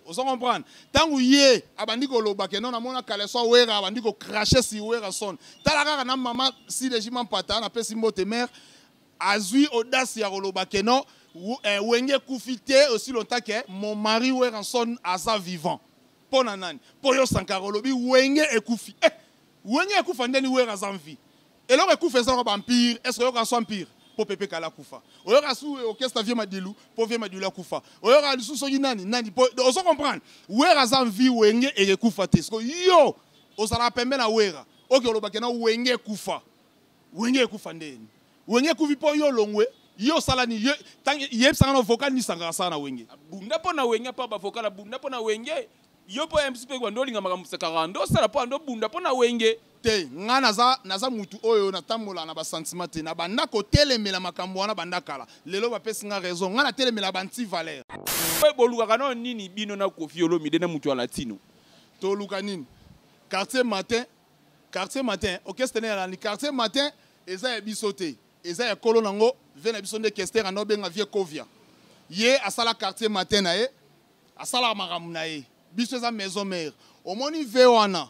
ozo comprendre ntango ye abandi koloba ke no namona kaleso awera abandi kocrache si werrason tala kaka na mama sileji mampata napesi mbote mare azwi audace ya koloba ke no eh, wenge ekufi te aussi longtemps ke mon mari werrason aza vivant mpo na nani mpo yo sankara olobi wenge ekufi eh, wenge ekufa ndeni wera aza mvi eloko ekufa eza ba empire est ce oyoka so empire po pepe kala akufa oyoka su orchestre vie madilu po vie madilu akufa oyoka lisusu soki nani nani po ozo comprendre wera aza vie wenge ekekufa te siko yo ozalaka pembe na wera oke olobake na wenge ekufa wenge ekufa ndeni wenge ekufi po yo olongwe yo osala nini yebisanga na vocal nini esangaka sala na wenge abunda mpo na wenge mpo bavocal abunda mpo na wenge yo mpo ya mpe kuwa nde olinga makambo sakaka nde osala mpo ando obunda mpo na wenge te ngai naza, naza mutu oyo natambola na basentiment te na banda kotelemela makambo wana banda kala lelo bapesi ngai raison ngai natelemela banti valeur bolukaka nao nini bino na kofi olomide na mutu ya latino toluka nini quartier matin quartier matin orchestre ne yalani quartier matin eza ya biso te eza ya kolo nango vie na biso nde kester anda obenga vie kovia ye asala quartier matin na ye asalaka makambo na ye biso eza maison mère omoni ve wana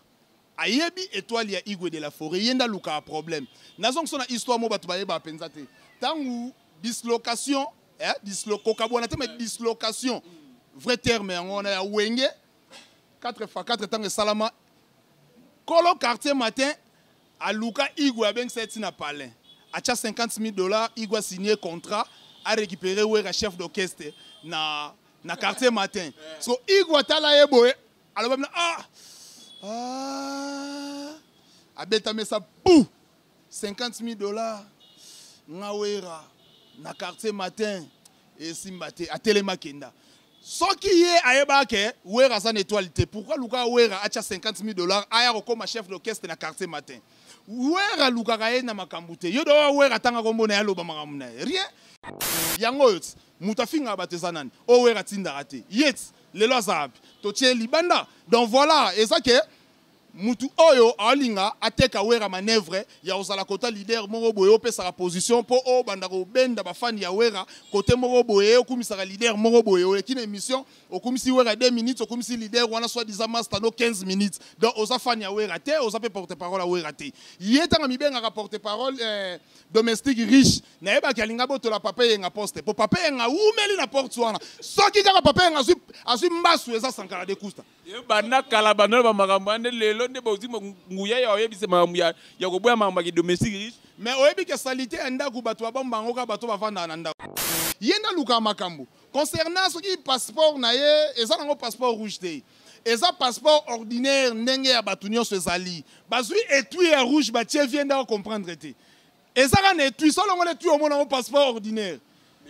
ayebi étoile ya igwe de la forêt ye nde alukaka problème nazongiso na histoire mo bato bayebaka mpenza te ntango dislocation eh, dislo, kokabwana te ma dislocation vrai terme yango wana ya wenge 4 fois 4 ntango esalama kolo quartier matin aluka igwe abengisa ye ntina palin atya 50 000 dollars igwe asigne contrat arécupere wera chef d'orchestre na na quartier matin so igwe atala ye boye aloba mina ah, ah. abeta mesa pou 50 000 dollars ngawera na quartier matin esimba te atelema kenda soki ye ayebaka ke wera aza na étoile te pourquoi luka wera atya 50 000 dollars aya kokoma chef d'orchestre na quartier matin wera alukaka ye na makambo te yo dowa wera atanga kombo na ye aloba makambo na ye rien yango oyo Moto afingaka bato eza nani? Oyo Werra atindaka te. Yet lelo aza wapi? Totie ye libanda. Donc voilà, eza ke mutu oyo alinga ateka Werra manœuvre ya kozala kota leader moko boye opesaka position mpo obanda kobenda bafani ya Werra kote moko boye okumisaka leader moko boye oleki na émission okumisi Werra 2 minutes okumisi leader wana soit disant masta no 15 minutes donc oza fani ya Werra te oza mpe porte parole ya Werra te ye ntango amibengaka porte parole eh, domestique riche nayebaki alinga botola papa eyenga poste mpo papa eyenga awumeli na porte wana soki kaka papa eyenga azwi, azwi mbasu eza sankara de kusta banda kala banda ba makambo wana nde lelo nde bozwi nguya ya oyebisa makambo ya, ya koboya makambo ya kidomestique riche mais oyebi ke salite ya ndako bato babomba yango kaka bato bavandaka na ndako ye nde alukaka makambo concernant soki passeport na ye eza nango passeport rouge te eza passeport ordinaire ndenge ya bato nyonso ezali bazwi etui ya rouge batie vie nde acomprendre te eza kaka na etui so olongoli etui omona yango passeport ordinaire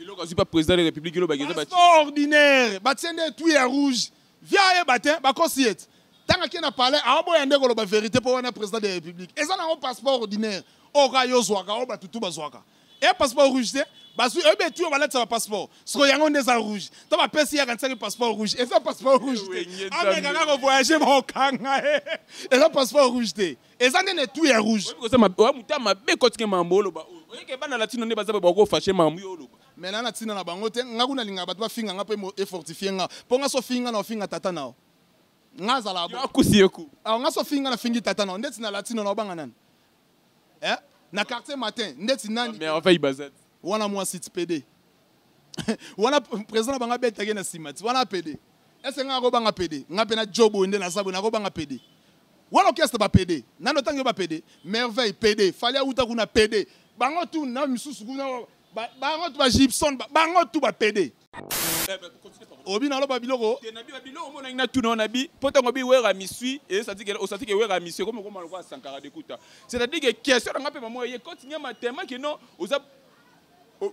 eloko azwi pa président de république elobaki eza passeport ordinaire batie nde etui ya rouge via ayeba te bakosi ye ti ntango akie na palais aoboya nde koloba verité mpo wana président de république eza nango passeport ordinaire oyo kaka yo ozwaka oyo bato tu bazwaka e passeport rouge te bazwi oyebi etu oyo balatisa bapasseport sikoyo yango nde eza rouge to bapesi ye akanisaki passeport rouge eza passeport rouge te amekaka kovoyage bakokanga ye eza passeport rouge te eza nde na etu ya rouge oya moto ya mabe kotike makambo oloba oyo oyeke bana latino nde baza bakofashe makambo yo oloba mai na na ntina na bango te ngai kuna alingaka bato bafinga ngai mpo efortifie ngai mpo ngai so ofingi ngai na ofinga tata nao ngai azala akusi ye ku awa ngai so ofingi ngai nafingi tata nao ndeti na latino na obanga nani eh? na quartier matin ndeti nani wana mwasi ti pede wana président na bango abetaki na nsima ti wana pede ese ngai akobanga pede ngai mpe na jo boye nde naza boye nakobanga pede wana orchestre bapede nani otangi yo bapede merveille pede fali awuta kuna pede bango tu na misusu kuna bango tu bagibson bango tu bapede obi naloba biloko biloko omonaki na tuna wana bi mpo ntango bi wera misui osati ke wera misui ekomi okoma lokola sankara dekuta c'est-à-dire ke question na ngai mpe mamoya ye koti ngai matema ke non oza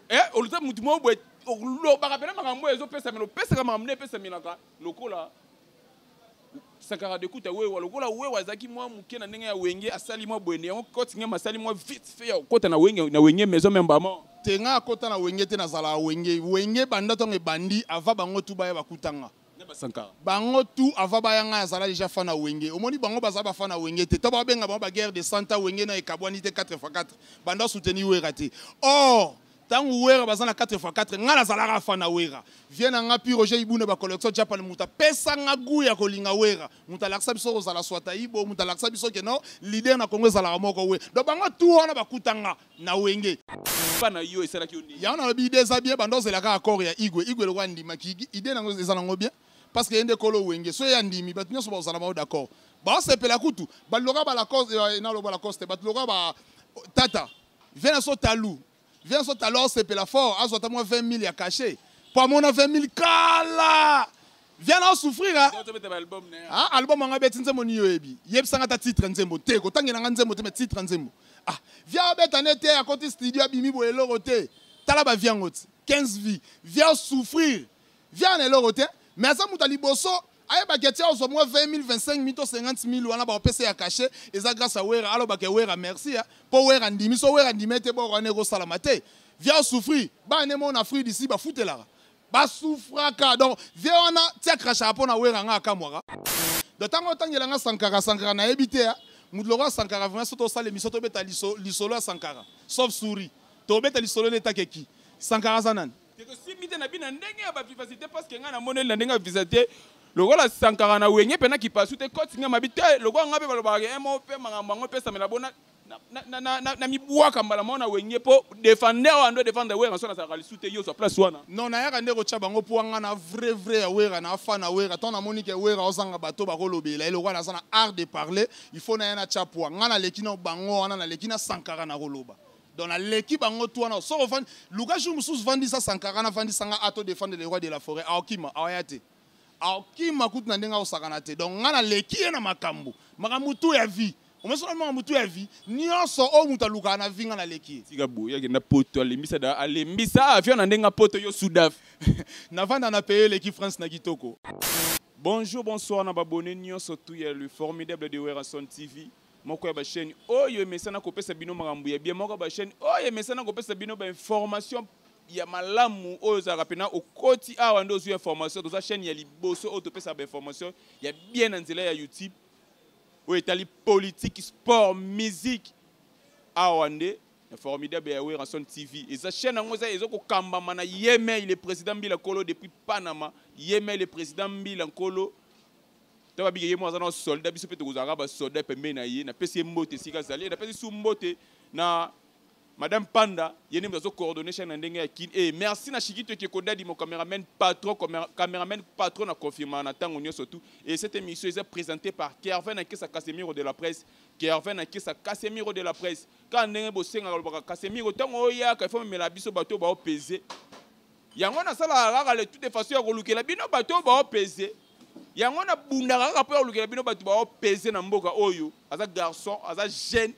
eh, oza motu moko boye olobaka mpena makambo oyo ezopesamela opesaka makambo nde epesamelaka lokola Sankara Dekuta Wewa lokola Wewa azalaki mwa moke na ndenge ya wenge asali mwa boye yango koti ngema asali mwa vite fait ya kokota na wenge na wenge maison même bama te nga akota na wenge te nazala wenge wenge banda ntango ebandi ava bango tu baya bakutanga bango tu ava baya ngai azala deja fan na wenge omoni bango baza bafan na wenge te to babenga bango baguerre de santa wenge na ekabwani te 4 x 4 banda soutenir wera te or tangu wera baza na 4 fois 4 nga nazalaka fan na wera vie na nga pi roger ibuna ba collection japan mutu apesa nga gu ya kolinga wera mutu alakisa biso kozala swata ibo mutu alakisa biso ke no leader na kongo ezalaka moko we donc bango tu wana bakuta nga na wenge na yo esalaki yo nini yango nalobi ide eza bien banda ozela kaka accord ya igwe igwe lokola andimaki ide nango eza nango bien parce que ye nde kolo wenge so ye andimi bato nyonso bakozala bango d'accord baosepela kutu baloka balacoste eh, naloba lacoste bato loka ba tata Viens na so talu. Viens na so talu au sepela fort azo ta moi 20 000 ya caché. Pour mon 20 000 kala. Viens na souffrir hein. Ah album nga beti nzembo ni yoebi. Yebisa nga ta titre nzembo te ko tangela nga nzembo te mais titre nzembo. Ah viens beta nete à côté studio abimi bo eloko te. Tala ba viens ngoti. 15 vies. Viens souffrir. Viala na eloko te, mais aza moto ya liboso ayebaki ati azwa mwa 20 000, 25 000 to 50 000 wana bakopesa ya cachet eza grâce ya wera alobaka ya wera merci ya mpo wera andimi so wera andimi ete boko wana ekosalama te via souffrir bana nde mona fruit d'ici bafutelaka basufraka donc vie wana ti akrashaka mpo na wera nga akamwaka do ntango otangela nga sankara sankara nayebi te ya moto lokola sankara vraimen so tosala emission tobeta lisolo ya sankara sauf souri tobeta lisolo nde etakeki sankara aza nani te tosimbi te na bino na ndenge ya bavivasite parce que ngai namoneli na ndenge ya visa te lokola sankara na wenge mpe na kipasu te koti ngai mabi te lokola ngai mpe balobaka eh, mo mpe makambo yango epesamela bona namibwaka mbala moko na wenge mpo defender wana ndo defendre wera so nazalaka lisu te yo ozwa place wana non nayaka nde kotya bango mpo wanga na vrai vrai ya wera na afa na wera ntango namoni ke wera ozanga bato bakolobela ye lokola naza na art de parler il faut naya natya pwa ngai naleki na bango wana naleki na sankara nakoloba donc naleki bango tu wana soko ofandi luka jour mosusu vandisa sankara na vandisa nga ato defendre le roi de la forêt aokima awaya te aokima kutu na ndenge akosakana te donc nga naleki ye na makambo makambo tu ya vie omesona makambo tu ya vie nyonso oyo moto alukaka na vie nga naleki ye tika boye akenda poto alembisa da alembisa avion na ndenge poto yo sudaf navanda na peye eleki france na kitoko bonjour bonsoir na babone nyonso tu ya le formidable de werrason tv moko ya ba chaîne oyo emesana kopesa bino makambo ya bien moko ya ba chaîne oyo emesana kopesa bino ba information ya malamu oyo ozalaka mpena okoti awa nde ozwi information toza chaîne ya liboso oyo topesaka ba information ya bien na nzela ya youtube oyo etali politique sport musique awa nde na formidable ya werrason tv eza chaîne yango eza ezo kokambama na yemei le président mbila nkolo depuis panama yemei le président mbila nkolo ntango abiki ye moko aza na soldat biso mpe tokozalaka basoldat pembeni na ye napesi ye mbote esika azali napesi su mbote na madame panda ye nde moto azocoordonne chaine na ndenge ya kin e merci na shikito ekekodadi mo cameraman patron cameraman patron na confirma na ntango nyonso tout et cette émission eza présentée par kervin na kesa casemiro de la presse kervin na kesa casemiro de la presse kaka ndenge bosengaka lobaka casemiro ntango oyaka ifo memela biso bato baopese yango nasalaka kaka le tout de façon ya kolukela bino bato baopese yango nabundaka kaka mpo ya kolukela bino bato baopese na mboka oyo aza garçon aza jeune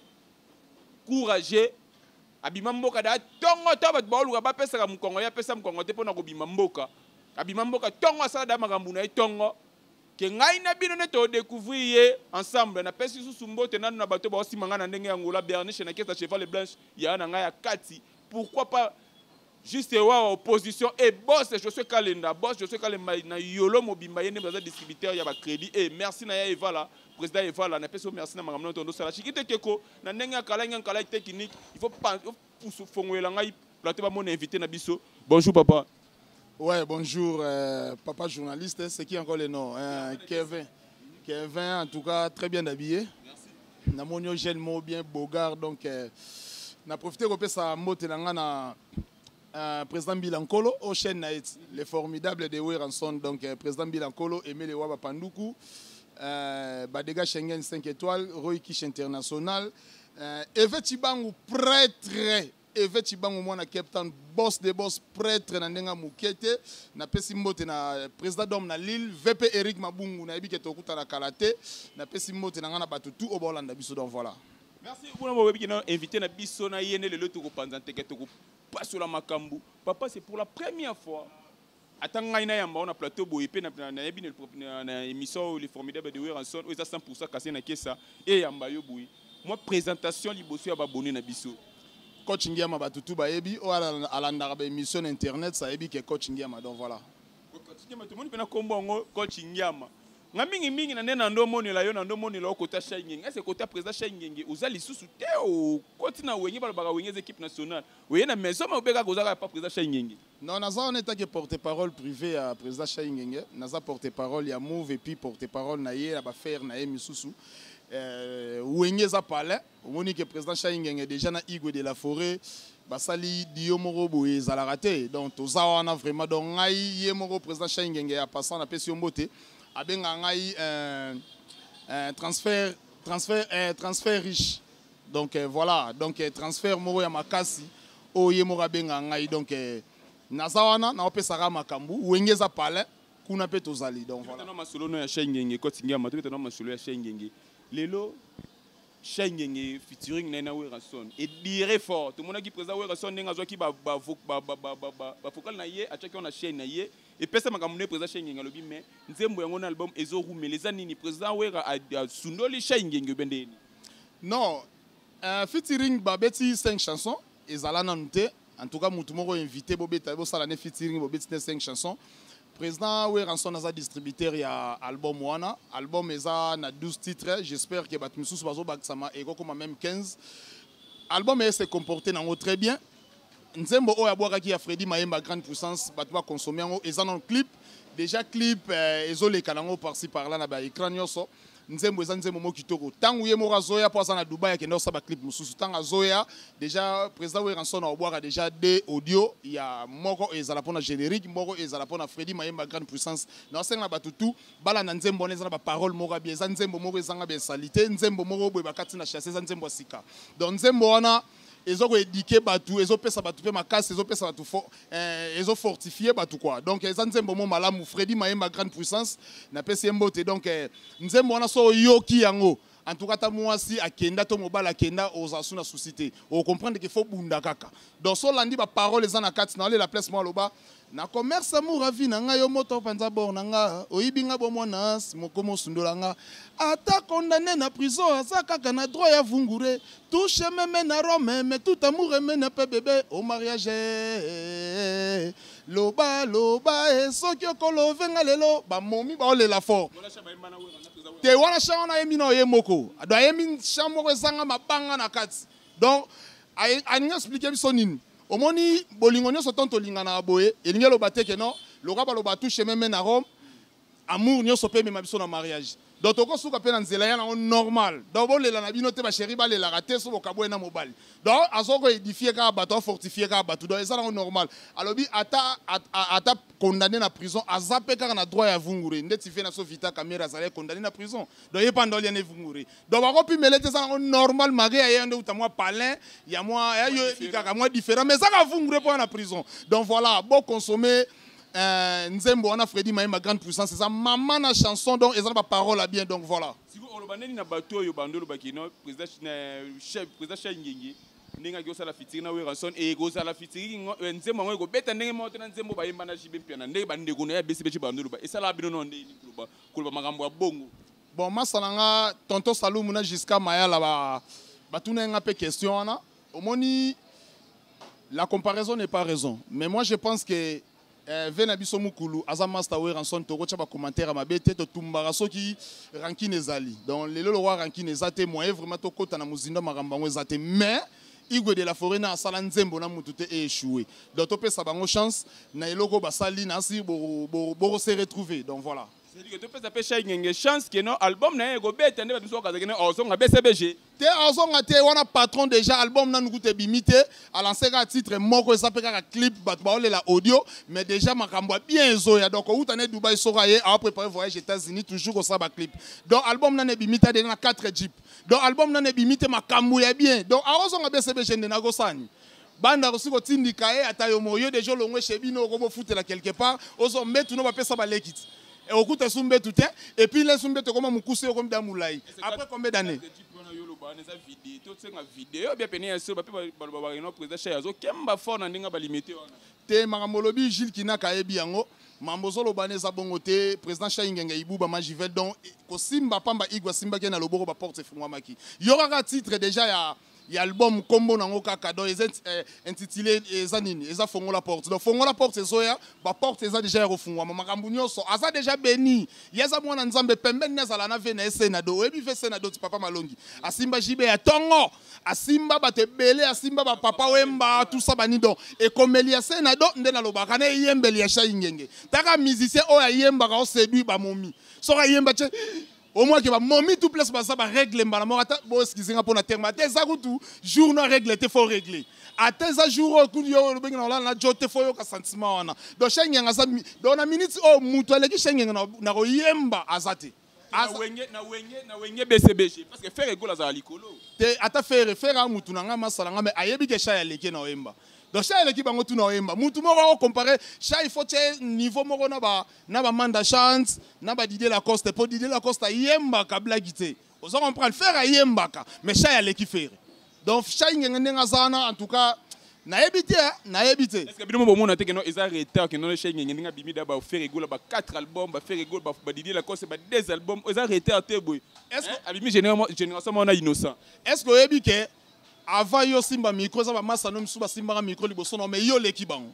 courageux abima mboka da ntongo to bato baoluka bapesaka mokongo ye apesa mokongo te mpo na kobima mboka abima mboka ntongo asala da makambo na ye ntongo ke ngai na bino nde todecouvrir ye ensemble napesi lisusu mbote nano na bato baosima ngai na ndenge ya ngola berniche na kesa cheval blanche yaya na ngai ya kati pourquoi pas Juste wawa opposition et eh, boss Josué Kalenda, boss Josué Kalenda na yolo mobimba yende baza distributeur ya ba crédit et eh, merci na ya Evala, président Evala na peso merci na makambo tondo sala. Chikite keko na ndenge ya kala ngang kala technique, il faut pas pousse fongoela ngai plateau ba mon invité na biso. Bonjour papa. Ouais, bonjour euh, papa journaliste, c'est qui encore le nom hein, Kevin. Kevin en tout cas très bien habillé. na moni yo jeune moko bien beaugard donc euh, na profite kopesa mbote na ngai na euh, président mbila nkolo o chaîne na ye le formidable de weranson donc euh, président mbila nkolo emele wa bapanduku euh, badega schengen 5 étoile roy kish international euh, eve cibangu prêtre Eve Chibangu mwana Cape Town boss de boss prêtre na ndenge moke te napesi mbote na euh, président d'homme na Lille VP Eric Mabungu nayebi ke tokutana kala te napesi mbote na ngai na bato tout oyo baolanda biso donc voilà merci kuna boyebi ke na invité na biso na ye nde lelo tokopanza nteke tokopasola makambo papa c'est pour la première fois ata ngai nayamba wana plateau boye mpe nayebi na émission oyo le formidable de weranson oyo eza 100 pourcent kasi na kesa eyamba yo boye mwa présentation liboso ya babone na biso coach ngiama bato tu bayebi oyo alandaka baémission na internet sayebi ke coach ngiama donc voilà coach ngiama tomoni mpe na nkombo yango coach ngiama nga mingi mingi na nde na ndo monela yo na ndo monela okota shai ngenge ese kota président shai ngenge oza lisusu te okoti na wenge balobaka wenge eza équipe nationale oye na maison ma obekaka ozaka ya pa président shai ngenge Non, naza wana etake porte-parole privé ya président Shaingenge, naza porte-parole ya Move et puis porte-parole na ye na ba faire na ye misusu. Euh, Wenge eza palais, omoni que président Shaingenge déjà na Igwe de la Forêt basali dio moko boye ezalaka te. Donc toza wana vraiment donc ngai ye moko président Shaingenge ya passant na pesi yo mbote abenga ngai euh, euh, transfert transfert euh, transfert riche donc euh, voilà donc euh, transfert moko ya makasi oyo ye moko abengaka ngai donc euh, naza wana naopesaka makambo wenge eza palin kuna mpe tozali donc voilà. masolo no ya shengenge kotingiama tobeta na masolo ya shengenge lelo shengenge featuring na ye na werrason edire fort tomonaki président werrason ndenge azwaki bafokale na ye atyaki yango na chaîne na ye epesa makambo nde président shengenge alobi mais nzembo yango na album ezorumela eza nini président wera asundoli shengenge obe ndeni Non, euh, featuring babeti 5 chansons ezala nanu te. En tout cas mutu moko invité bobeta bosala ne featuring bobeti ne 5 chansons. Président Weranson aza distributeur ya album wana. Album eza na 12 titres. J'espère que bato misusu bazobakisama ekokoma même 15. Album ese comporte nango très bien. nzembo oyo abwakaki ya Freddy Mayemba grande puissance bato ba consomme yango eza na clip déjà clip eh, ezoleka nango parci par là na ba écran nyonso nzembo eza nzembo moko kitoko ntango ye moko azoya mpo aza na dubai akenda kosala baclip mosusu ntango azoya déjà président weranson aobwaka déjà de audio ya moko ezala mpo na générique moko ezala mpo na fredi mayemba grande puissance na osenga na bato tu balanda nzembo wana eza na baparole moko abia eza nzembo moko ezanga bensalite nzembo moko boye bakati na chasse eza nzembo ya sika donc nzembo wana ezo ko éduquer batu ezo pesa batu pe makasi ezo pesa batu fo, eh, ezo fortifier batu quoi donc eza nzembo mo malamu Freddy Mayemba grande puissance na pesi mbote donc eh, nzembo wana so yoki yango en tout cas ta mwasi akenda to mobali akenda oza su na souci te okomprendre ke fo bunda kaka donc so olandi baparole eza na kati na olela place mwa aloba Na commerce amour avis na nga yo moto panza bord na nga oyibi nga bo mwana ans moko mosundola nga ata condamné na prison aza kaka na droit ya vungure tout chemin mène à Rome mais tout amour mène pe bébé au mariage loba loba e soki okolove nga lelo bamomi baolela fort te wana chan wana ayembi na oye moko do ayembi chan moko ezanga mabanga na kati donc alingi explike biso nini omoni bolingo nyonso ntango tolinganaka boye elingi eloba te ke non lokola baloba tout chemin mène à rome amour nyonso mpe emema biso na mariage donc tokosuka mpe na nzela ya nango normal donc bolela na bino te basheri balelaka te so bokabwe na mobali donc azoko edifie kaka bato afortifie kaka bato donc eza nango normal alobi ata ata condamné na prison aza mpe kaka na droit ya vungure ndeti vie na so vita kamere azalaki condamné na prison donc ye mpe andoli yana evungure donc bakopimela ete eza nango normal mage ya ye nde uta mwa palin ya mwa ya yo ebi kaka mwa différent mais ezaka vungure mpo na prison donc voilà boconsomme euh, nzembo wana fredi mayemba grande puissance eza mama na chanson donc eza na baparole ya bien donc voilà sikoyo oloba ndeni na bato oyo bando olobaki no président chef président chai ngenge ndenge aki osala fitiri na weranson eye kozala fitiri eh, nzembo yango ekobeta ndenge moko te na nzembo bayemba na jibe mpiana ndenge bandeko na ye abesi beti bando oloba esalaka bino no ndeni koloba makambo ya bongo Bon, masa na nga tonton Salumu na Giscard Mayala ba batunaki nga mpe question wana. Omoni la comparaison n'est pas raison. Mais moi je pense que eh, ve na biso mukulu aza master weranson tokotya bacommentaire ya mabe te totumbaka soki rankine ezali donc lelo lokwa rankine eza te moye vraiment tokɔta na mozindo ya makambo yango eza te mais igwe de la forêt na asala nzembo na motu te eechoué donc topesa bango chance na eloko basali nasi bokose retrouver donc voilà Cedric topesa pe Shai Ngenge chance que non album na ye ekobeta nde bato mosusu bakazaki ne ozonga BCBG te azonga te wana patron déjà album nanu kuta ebimi te alanse kaka titre moko eza mpe kaka clip bato baolela audio mais déjà makambo ya bien ezoya donc outa ne dubai soko aye aoprépare voyage états-unis toujours kosala baclip donc album nanu ebimi te adena na 4 jeep donc album nanu ebimi te makambo ya bien donc akozonga bcbg nde nakosani Banda kosi ko tindika ye ata yo moyo deja olongwe chez bino oko bofutela quelque part ozo mbetu no bapesa baleki ti eh, okuta su mbetu te et puis lesu mbetu ekoma mokuse yo komida mulai après combien d'année wana eza video tosenga video bia pene ya solo bape baloba bakino président chai azokemba fort na ndenge balimite wana te makambo olobi jules kinaka ayebi yango mambo ozoloba na eza bongo te président chai ngenge ibuba majivel donc kosimba pamba igwe asimbaki ye na loboko baporte efungwamaki yo kaka titre déjà ya ya album nkombo nango kaka donc eza eh, intitulé eza nini eza fongola porte donc fongola porte ezoya baporte eza deja ya kofungwama makambo nyonso aza deja beni ye aza mwana nzambe pembeni nde azala na ve na ye senado oyebi ve senado ti papa malongi asimba jibe ya tongo asimba bato ebele asimba bapapa wemba tusa bani donc ekomeli ya senado nde nalobaka na eyembeli ya shai ngenge taka musicien oyo ayembaka osedui bamomi soki ayemba ce au moins que ba momi tout place baza ba règle mbala moko ata bo excuse nga pona terme ata eza kutu jour na règle te faut régler ata eza jour oyo kutu yo obengi na olala na jo te faut yoka sentiment wana donc shengenge aza donc na minute oyo moto aleki shengenge na koyemba aza te wenge bcbg parce que fere egola azala likolo te ata fere fere a mutu na ngai masala ngai me ayebi ke shai aleki na oyemba donc shai aleki bango tuna oyemba mutu moko akocompare shai faut tie niveau moko na ba na ba manda chance na ba Didier Lacoste po Didier Lacoste ayembaka blague te ozo comprendre faire ayembaka mais shay aleki faire donc shay ngenge ndenge aza wana en tout cas nayebi te hein, nayebi te que bino bomona te keno eza retard keno shay ngenge ndenge abimi da ba faire egola ba 4 albums ba faire egola ba Didier Lacoste ba 2 albums eza retard te boy est ce que hein? abimi génération génération wana innocent est ce que oyebi ke avant yo simba micro eza ba masano misusu basimbaka micro liboso na mais yo oleki bango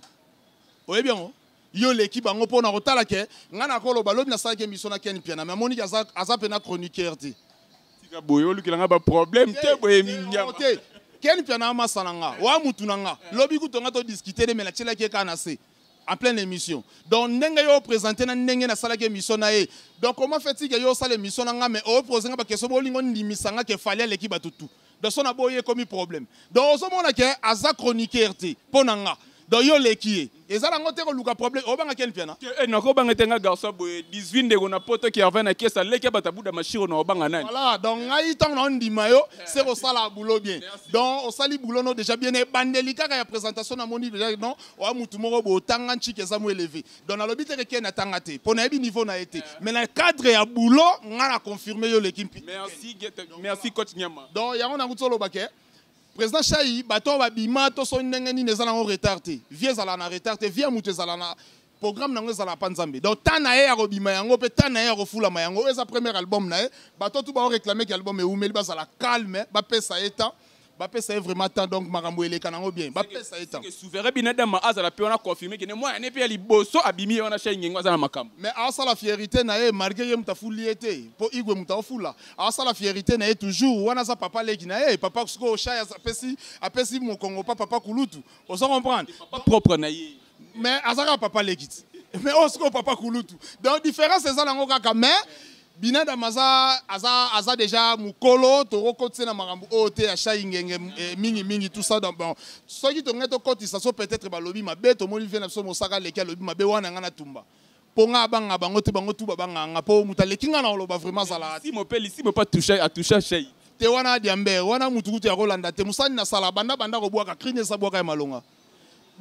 oyebi yango yo leki bango pona kotala ke ngai nakoloba lobi nasalaki emission na ken piana me amoniki aza, aza pena chroniqueur te tika boye olukela ngai baproblème te boye mindiama te ken piana amasa na nga oa mutu na nga lobi kutu nga todiskute de me natyelaki ye kaka na se en pleine émission donc ndenge yo opresente na ndenge nasalaki émission na ye donc oma fetike yo osala émission na nga me oprose nga bakestion bolingo ndimisa nga ke fali aleki bato tout donc so naboyi ekomi problème donc ozomona ke aza chroniqueur te mpo na nga donc yo oleki ye eza nango te koluka problème obanga ken mpiana eh, nakobanga te nga garçon boye 18 ndeko na poto ki arvin na kesa leki ya bata buda mashiro na obanga nani voilà donc ngai ntango na ondima yo eh. se kosala boulot bien donc osali boulot no déjà bien ebandeli kaka ya présentation namoni déjà non oya motu moko boye otanga nciki eza mo élevé donc nalobi te ken atanga te mpo nayebi niveau na ye te mais na cadre ya boulot ngai na confirme yo oleki mpi merci coach nyama donc yango nango tozoloba ke président shai bato oyo babima to soki ndenge nini eza nango retard te vie ezala na retard te vie ya moto ezala na programme nango ezala pa nzambe donc temps na ye ya kobima yango mpe temps na ye ya kofulama yango oyo eza premier album na ye bato tu baoreklame ke album ewumeli bazala calme bapesa ye temps bapesa ye vraiment temps donc makambo eleka nango bien bapesa ye temps souverain binadama azala mpe wana confirme kende mwana ne mpe ya liboso abimi ye wana shenge yango aza na makambo mais asala fierité na ye malgré ye moto afuli ye te mpo igwe moto aofula asala fierité na ye toujours wana aza papa leki na ye papa sikoyo shai apesi apesi mokongo pa papa kulutu oza comprendre propre na ye mais aza kaka papa leki ti mais oyo sikoyo papa kulutu donc différence eza nango kaka mais binadam aza, aza, aza deja mokolo tokokotisa na makambo oyo te ya shai ngenge eh, mingi mingi tout ça donc bon soki tongai tokotisa so peut-être balobi mabe tomoni vie na biso mosaka aleki alobi mabe wana ngai natumba mpo ngai abanga bango te bango tu babanga nga mpo moto aleki ngai na koloba vraiment azalaka simo mpe lisimo mpe atusha atusha shai te wana adiambe wana motukutu ya kolanda te mosani na sala banda banda kobwaka krine esa bwaka ya malonga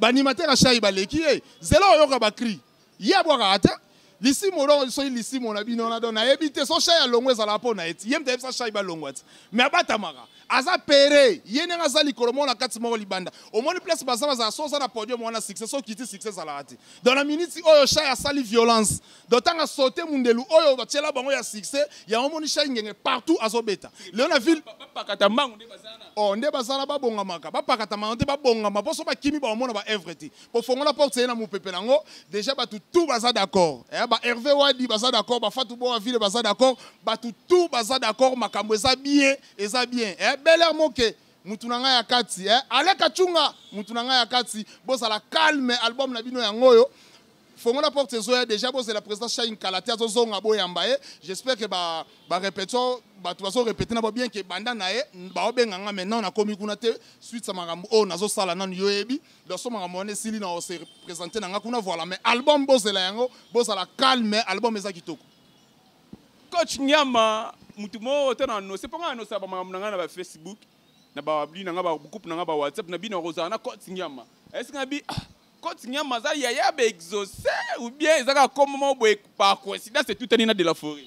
banimatera shai baleki ye zela oyoka bacri ye abwakaka te lisimo oloko soki lisimo na bino wana don nayebi te so shai alongwa ezalaka mpo na ye ti ye mte ayebisa shai balongwa ti me abatamaka aza pere ye ndenge aza likolo moko na kati moko libanda omoni place baza bazala so oza na podium wana succès so kiti succès ezalaka te don na miniti oyo shai asali violence donc tanga saute mundelu oyo batiela bango ya succès yango omoni shai ngenge partout azobeta lelo na ville bapakata mbango nde bazana oh nde bazana babongamaka bapakata mbango te babongama mpo so bakimi baomona ba evre te kofongola porte ye na mopepe nango déjà bato tout baza d'accord eh, ba herve wadi baza d'accord bafatu boa ville baza d'accord bato tout baza d'accord makambo eza bien eza bien eh, bel air moke mutu na ngai ya kati eh? aleka cunga mutu na ngai ya kati bozala calme album na bino yango oyo fongola porte ezoya deja bozela président shine kala te azozonga boyamba ye j'espère que ba, ba répétition bato bazorepete na bo bien ke banda na ye baobenga nga mai nano nakomi kuna te suite ya makambo oyo nazosala nano yo oyebi doso makambo wana esili na ose représente na nga kuna voilà mais album bozela yango bozala calme album eza kitoko coach nyama motu moko to na anose mpo ngai anosaka bamakambo na ngai na bafacebook na babli na ngai bagroupe na ngai bawhatsapp na bino akozala na coach nyama esika na bi ah, Cote Niama aza yaya ba exaucé ou bien eza kaka kombo moko boye par coïncidence etutani na de la forêt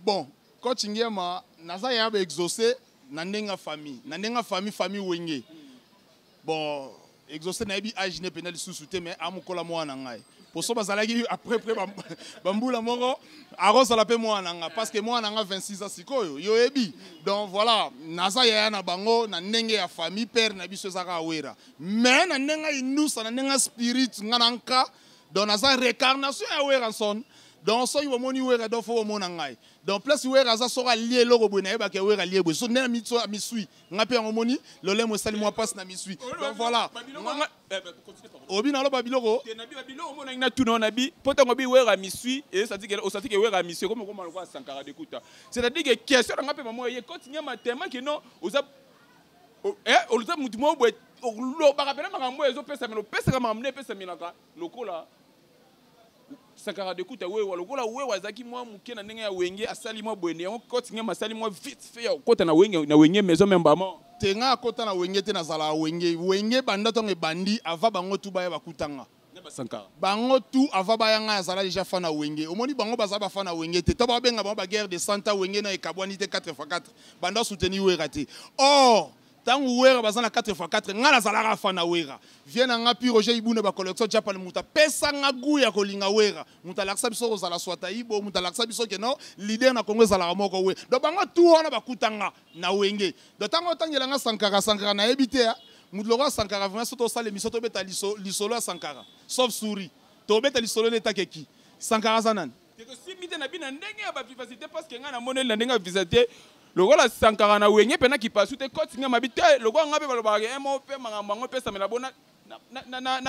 bon coach ngiema naza yaya ba exaucé na ndenge ya famille na ndenge ya famille famille wenge bon exaucé nayebi age ne mpenza lisusu te mais amokola mwana na ngai poso bazalaki après près bambula moko akozala mpe mwana na ngai parce que mwana na ngai 26 ans sikoyo yo oyebi donc voilà naza yaya na bango na ndenge ya famille père na biso ezaka awera mais na ndenge ainusa na ndenge spirit nga na nka donc naza récarnation ya weranson donc soki bomoni wera donc fo bomona ngai donc place wera aza soki alie eloko boye nayebaka ya wera alie boye so nde na misui ngai mpe yango omoni lolemo esali mwa mpasi na misui donc voilà obi naloba biloko natuna wana bi mpo ntango bi wera misui osati ke wera misui ekomi okoma lokola sankara dekuta c'est-à-dire ke question na ngai mpe mamoya ye koti nyama tema kino oza eh, oluta motu moko boye olobaka mpena makambo oyo ezopesamela opesaka makambo nde epesamelaka lokola sakara de kuta wewa lokola wewa azalaki mwa moke na ndenge ya wenge asali mwa boyende yango koti ngema asali mwa vite fe ya kokota na wenge na wenge maison meme bama te ngai akota na wenge te nazalaka wenge wenge banda ntango ebandi ava bango tu baya bakutanga bango tout avant baya ngai azala déjà fan ya wenge omoni bango baza bafan ya wenge te to babenga bango baguerre de santa wenge na ekabwani te 4 x 4 banda souteni wera te or ntango wera baza na 4 x 4 ngai nazalaka fan ya wera vie na ngai pi roger ibuna bacollection japan moto apesa ngai gu ya kolinga wera moto alakisa biso kozala swataibo moto alakisa biso keno lider na kongo ezalaka moko we do bango tu wana bakuta ngai na wenge donc ntango otangela nga sankara sankara nayebi te ya moto lokola sankara vraimen soki tosala émission tobeta lisolo ya sankara sauf souri tobeta lisolo nde etakeki sankara aza nani tosimbi te na bino ndenge ya bavivacité parceke ngai namoneli na ndenge ya vivacité lokola sankara na wenge mpe na kipasu te koti ngai mabi te lokola ngai mpe balobaka emo mpe makambo yango epesamela bona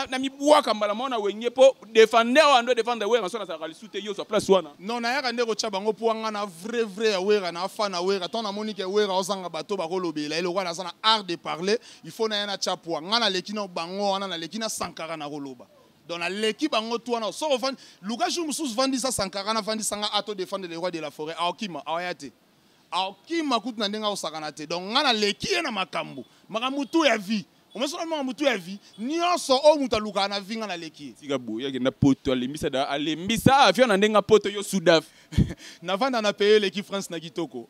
na mibwaka mbala moko na wenge mpo defender wana ndo defendre wera so nazalaka lisu te yo ozwa place wana non nayaka nde kotya bango mpo wanga na vrai vrai ya wera na afa na wera ntango namoni ke wera ozanga bato bakolobela ye lokola naza na art de parler il faut naya natya pwa ngai naleki na bango wana naleki na sankara nakoloba donc naleki bango tu wana soko ofandi luka jour mosusu vandisa sankara navandisa ngai ato defendre le roi de la forêt aokima aoya te akima kutu na ndenge akosakana te donc ngai naleki ye na makambo makambo tu ya vie omesona makambo tu ya vie nyonso oyo moto alukaka na vie ngai naleki ye tika boye akenda poto alembisa da alembisa avion na ndenge poto yo sudaf navanda na peye eleki france na kitoko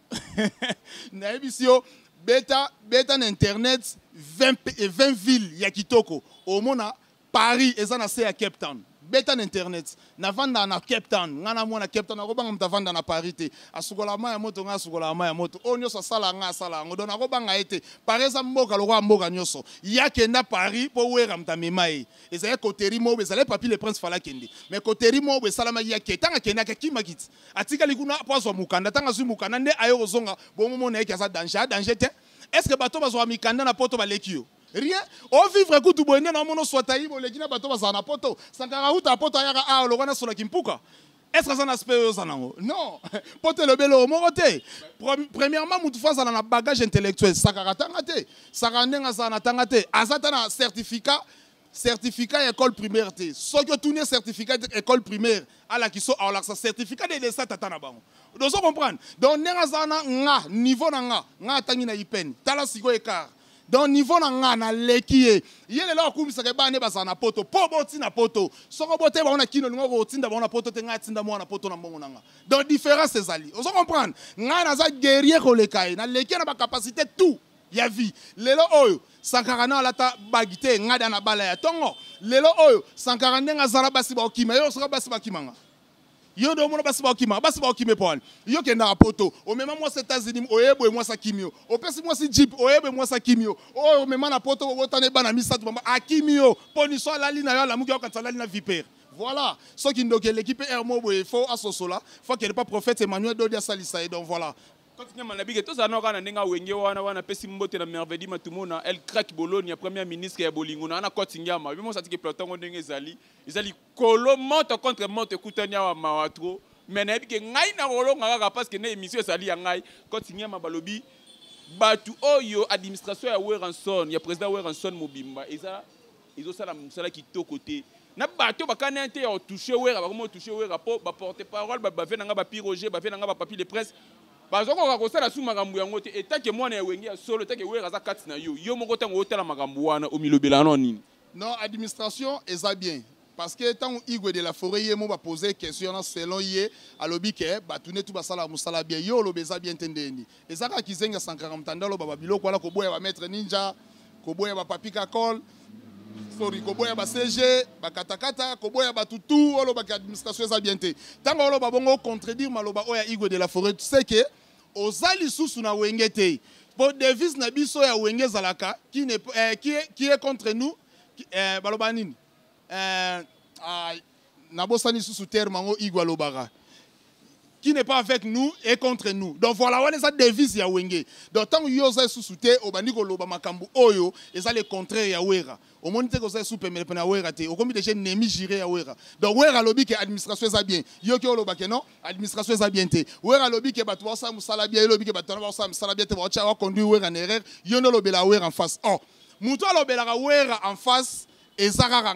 nayebisi yo beta beta na internet 20, 20 ville ya kitoko omona Paris eza na se ya Cape Town. Beta na internet. Na vanda na Cape Town. Nga na mwana Cape Town. Nakobanga muta vanda na Paris te. Asukola ma ya moto nga asukola ma ya moto. Oyo nyoso asala nga asala ngo. Donc nakobanga ete Paris eza mboka lokola mboka nyoso. Ya kenda Paris po wera muta mema ye. Eza ya koteri mo eza le papi le prince fala kende. Mais koteri mo be sala ma ya ke tanga kenda ke kima kiti. Atika likuna po azwa mukanda tanga zwi mukanda nde ayo kozonga. Bongo mona ye ke aza danger. A danger te. Est-ce que bato bazwa mikanda na poto baleki yo? rien o vivre kutu boye nde naomona oswata ye boleki na bato bazala na poto sankara uta poto ayaka awa lokwa na solaki mpuka est ce que aza na aspect oyo oza nango non poto elobi eloko moko te premièrement motu fo azala na bagage intellectuel sakaka atanga te sakaka ndenge azala na tanga te aza ata na certificat certificat ya école primaire te soki otuni certificat école primaire alakisa alakisa certificat de desa tata na bango dozo comprendre donc ndenge aza na nga niveau na nga nga atangi na ipene tala sikoyo ekart donc niveau na nga naleki ye ye lelo akumisaka ebana nde bazala na poto mpo boti na poto soko bote bango na kino olinga kotinda bango na poto te ngai atinda mwana na poto na mbongo na nga donc différence ezali ozo comprendre ngai naza guerrier koleka ye naleki ye na bacapacité tout ya vie lelo oyo sankara na alata bagi te ngai da na bala ya ntongo lelo oyo sankara ndenge azala basi baokima ye osoka basi bakimanga yo nde omona basi bakima basi bakima epo wani yo kendaka poto omema mwasi etats-unis oye boye mwasi akimi yo opesi mwasi jip oye boye mwasi akimi yo oyo omema na poto obotana ebana misato mama akimi yo mpo niso alali na yo alamuki aokanisa alali na vipere voilà soki ndoki eleki mpe heure moko boye fo asosola fo akende mpa prophète emmanuel dodi asalisa ye donc voilà koti nyama na bike tozala nao kaka na ndenge awenge wana wana apesi mbote na mervedi matumona el crack bologna première ministre ya bolingo na wana koti nyama bimosatike platongo ndenge ezali ezali Kolo moto contre moto ekutani awa mawa trop mais nayebi ke ngai nakolonga kaka parce que na emission ezali ya ngai koti nyama balobi bato oyo administration ya Weranson ya président Weranson mobimba eza ezosala mosala kitoko te na bato bakani te ya otouche wera bakomi otouche wera mpo baporte parole bato bave na ngai bapi roger bave na ngai bapapi de presse bazokoka kosala su makambo yango te etake mwana ya wenge ya solo etake wera aza kati na yo yo moko ntango otala makambo wana omilobela no nini Non, administration eza bien. Parce que tant Igwe de la forêt yemo ba poser question na selon ye alobi ke batune tout basala musala bien yo lobeza bien tendeni. Ezaka kizenga sankara mtandalo baba biloko wala koboya ba maître ninja, koboya ba papi kakol, sorry koboya ba CG, ba katakata, koboya ba tutu oloba ke administration eza bien te. Tango oloba bongo contredire maloba oya Igwe de la forêt, tu sais que oza lisusu na wenge te po devise na biso ya wenge ezalaka qui, ne, eh, qui, est, qui est contre nous qui, eh, baloba nini eh, ah, nabosani lisusu terme yango igo alobaka qui n'est pas avec nous et contre nous donc voilà wana eza devise ya wenge donc ntango yo oza lisusu te obandi koloba makambo oyo eza le contraire ya wera omoni te koza esu pemele pene ya wera te okomi deja ennemi jure ya wera donc wera alobi ke administration eza bien yoki oloba ke non administration eza bien te wera alobi ke bato baosala mosala bia ye lobi ke bato wana baosala mosala bia te baotya baconduire wera na erreur yo nde olobela wera en face or oh, moto alobelaka wera en face eza kaka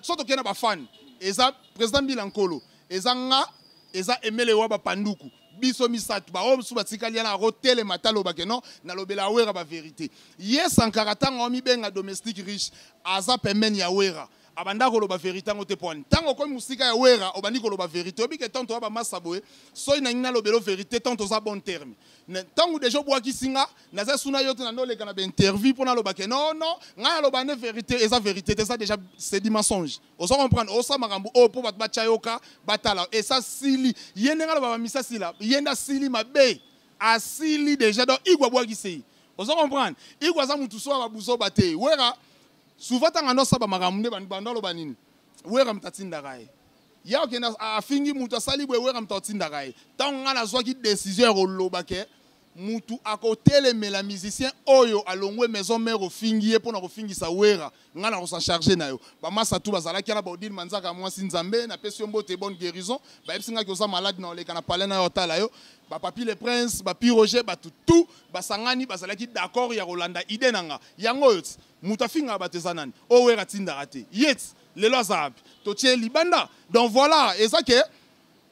so tokei na bafane eza président mbila nkolo eza nga eza emele wa bapanduku biso misato baoyo mosusu batikali yana akotelema ata aloba ke non nalobela awera baverité ye sankara ntango amibenga domestique riche aza pembeni ya wera abanda koloba verité yango te pwani ntango okomi mosika ya wera obandi koloba verité oyebi ke tante oya bamasa boye soki nangi nalobelo verité tante oza bon terme ntango deja obwakisi nga naza suna yo te nande oleka na bainterview mpo naloba ke non non ngai aloba nde verité eza verité te eza deja sedi mensonge ozo comprendre osa makambo oyo mpo bato batya yoka batala esa sili ye ndenge aloba bamisa sila ye nde asili mabe asili déjà donc igwe abwakisi ye ozo comprendre igwe aza motu so ya babuzoba te wera souvent ntango ando asaba makambo nde bando aloba nini wera moto atindaka ye ye akende afingi moto asali boye wera moto atindaka ye ntango ngai nazwaki décision ya koloba ke mutu akotelemela musicien oyo alongwe maison mère ofingi ye mpona kofingisa wera ngai nakosa charge na yo bamasa tu bazalaki wana baodile manzaka mwasi nzambe napesi yo mbote bonne guérison bayebisi ngaki oza malade na oleka na palais na yo atala yo bapapi le prince bapi roger bato tu basangani bazalaki d'accord ya kolanda ide na nga yango oyo ti moto afingaka bato eza nani oyo wera atindaka te ye ti lelo aza wapi totie libanda donc voilà eza ke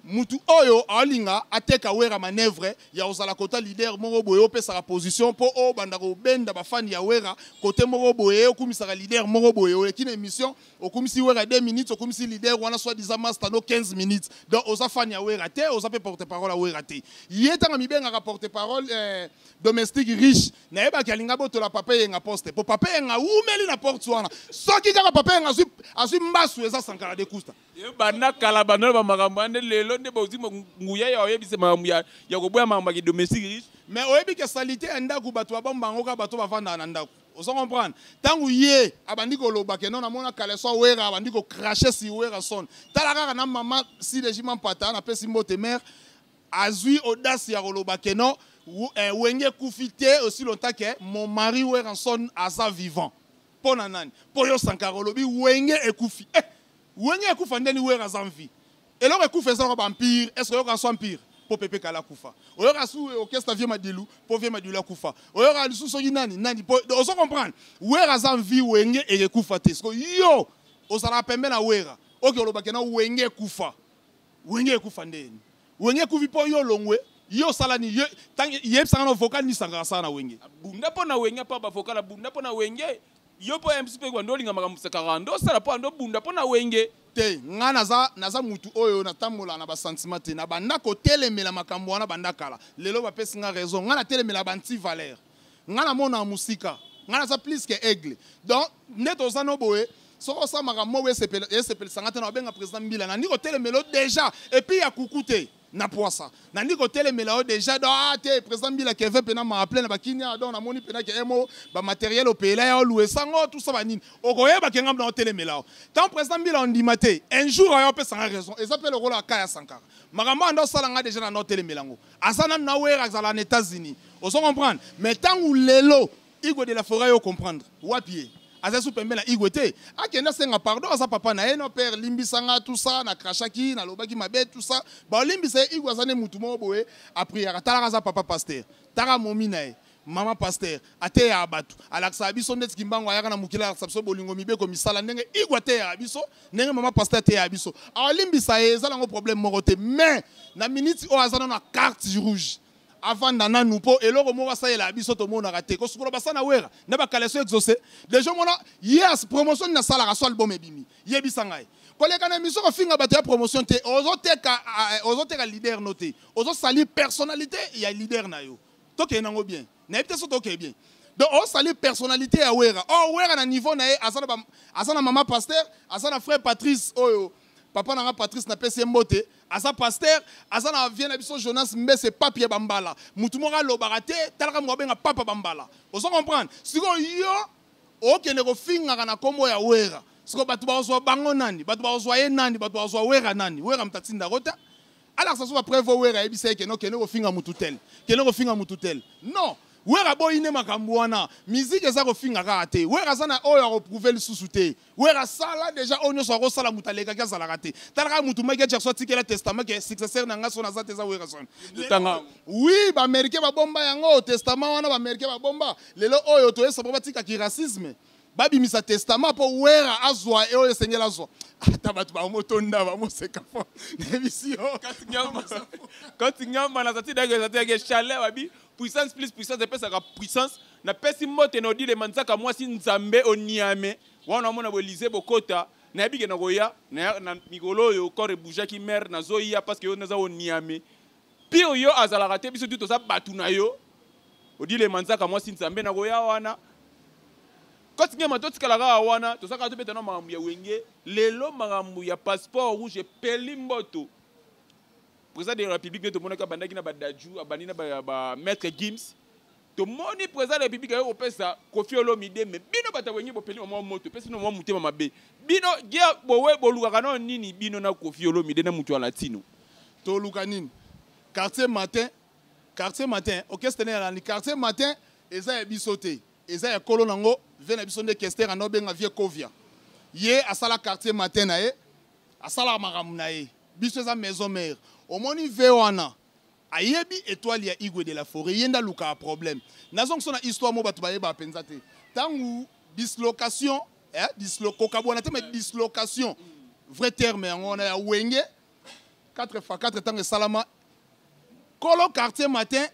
Mutu oyo alinga ateka wera manevre ya ozala kota leader moko boye opesaka position po o banda ko benda ba fan ya wera kote moko boye okumisaka leader moko boye oleki na emission okumisi wera 2 minutes okumisi leader wana soit disant masta no 15 minutes donc oza fan ya wera te oza pe porte parole ya wera te ye tanga mibengaka porte parole eh, domestique riche na ye baki alinga botola papa yenga poste po papa yenga umeli na porte wana soki kaka papa yenga azui azui mbasu eza sankara de kusta ebanda kala banda ba makambo ande lelo nde bozi nguya ya oyebisa makambo ya ya koboya makambo ya domestique riche mais oyebi ke salite ya ndako bato babomba yango kaka bato bavandaka na ndako ozo comprendre ntango ye abandi koloba ke no namona kaleso awera abandi kocrache si werason tala kaka na mama silegima mpata napesi mbote mare azwi audace ya koloba ke no eh, wenge ekufi te aussi longtemps ke mon mari werason aza vivant mpo na nani mpo yo sankara olobi wenge ekufi eh, Wenge ekufa ndeni wera aza en vie. Eloko ekufa eza ko ba empire, est-ce que oyoka so empire? Po Pepe Kale akufa. Oyoka su orchestre Vieux Madilu, po Vieux Madilu akufa. Oyoka lisusu soki nani? Nani? Po ozo comprendre? Wera aza en vie, wenge ekekufa te. Siko yo ozalaka pembe na wera. Oke oloba ke na wenge ekufa. Wenge ekufa ndeni? Wenge ekufi po yo olongwe, yo osala nini? Yo tangi yebisa nga na vocal nini sangara asala na wenge? Abunda po na wenge apa ba vocal abunda po na wenge. yo mpo ya mpe kuwa nde olinga makambo sakaka nde osala mpo ando obunda mpo na wenge te ngai naza, naza mutu oyo natambola na basentiment te nabanda kotelemela makambo wana banda kala lelo bapesi ngai raison ngai natelemela banti valeur ngai namona mosika ngai naza plus ke aigle donc nde toza no boye soki osala makambo moko esepelisa ngai te na obenga président mbila nandi kotelemela déjà epuis ya kuku te na pwasa nandi kotelemela yo deja do ah, te président mbila keve mpe na maaple na bakinia donc namoni mpe na kemo bamateriel opela ya olue sango tusa banini okoyeba ke ngambo na otelemela yo tant président mbila ondima te un jour ayo opesanga raison eza mpe lokola aka ya sankara makambo anda osala ngai deja na na otelemela yango aza nanu na wera azala na états-unis ozo comprendre mais ntango lelo Igwe de la foret yo comprendre wapi ye aza su pembe na Igwe te akenda senga pardon aza papa na ye no père limbisa nga tout ça na crachaki na lobaki mabe tout ça ba olimbisa ye Igwe aza ne mutu moko boye a prière talaka aza papa pasteur taka momi na ye mama pasteur ateyaka bato alakisaka biso ndeti kimbangu ayaka na mokili alakisa biso bolingo mibeko misala ndenge igwe ateyaka biso ndenge mama pasteur ateyaka biso alimbisa ye eza nango problème moko te mais na miniti oyo aza nano na carte rouge avanda nanu mpo eloko moko asalela biso tomonaka te kosukola basa na wera na bakaleso exauce deja omona ye promotion nini asalaka so album ebimi yebisa ngai koleka na emission kofinga bato ya promotion te ozoteka eh, ozoteka leader no te ozosali personnalité ya leader na yo tokende yango bien nayebi te so tokee bien donc osali personnalité ya wera or oh, wera na niveau na ye aza na mama pasteur aza na frère patrice oyo oh, papa na nga patrice napesi ye mbote aza paster aza na vie na biso jonas mbese papi ya bambala motu moko alobaka te talaka moko abenga papa bambala ozo comprendre sikoyo yo okende kofingaka na nkombo ya wera sikoyo bato bakozwa bango nani bato bakozwa ye nani bato bakozwa wera nani wera moto atindako te alakisa so bapreve wera ayebisa ye kende okende kofinga motu tele kende kofinga motu tele non wera boyi nde makambo wana miziki eza kofinga kaka te wera aza na oyo akoprouve lisusu te wera asala deja oyo nyonso akosala moto alekaki azalaka te tala kaka motu mike jackson atikela testament ke successeur na nga so naza te eza werason tanga oui baaméricain babomba yango testament wana baaméricain babomba lelo oyo toyesa po batika ki racisme babimisa testament mpo wera azwa oyo esengeli azwa ata bato bamotonda bamoseka fo nayebisi yo kati nyamba nazati dake ezati yake chalet babi Puissance plus puissance epesaka puissance. Napesi mbote na Odile Manzaka mwasi Nzambe o Niame. Wana namona bo Elysee bokota. Nayebi ke nakoya na, na mikolo oyo corps eboujaki mère nazoya parce que yo naza o Niame. Pire yo azalaka te biso tu toza batu na yo. Odile Manzaka mwasi Nzambe nakoya wana. Coach Ngema totikala kaka wana toza kaka tobeta na makambo ya wenge. Lelo makambo ya passeport rouge epeli mboto. Président de la République nde tomonaki abandaki na Badadjou, abandi na ba, ba Maître Gims. Tomoni Président de la République ayo kopesa Koffi Olomide mais bino bato wenge bopeli mwa moto pesi no mwa motema mabe. Bino guerre bowe bolukaka no nini bino na Koffi Olomide na mutu ya latino. Toluka nini? Quartier matin, quartier matin, orchestre ne yalani quartier matin eza ya biso te. Eza ya kolo nango, vie na biso nde kester anabenga vie Kovia. Ye asala quartier matin na ye, asala makambo na ye. biso eza maison mère omoni ve wana ayebi etoile ya igwe de la foret ye nde alukaka problème nazongisa na histoire mo bato bayebaka mpenza te ntango dislocation eh, dislo, kokabwana te ma dislocation vrai terme yango wana ya wenge 4 fa 4 ntango esalama kolo quartier matin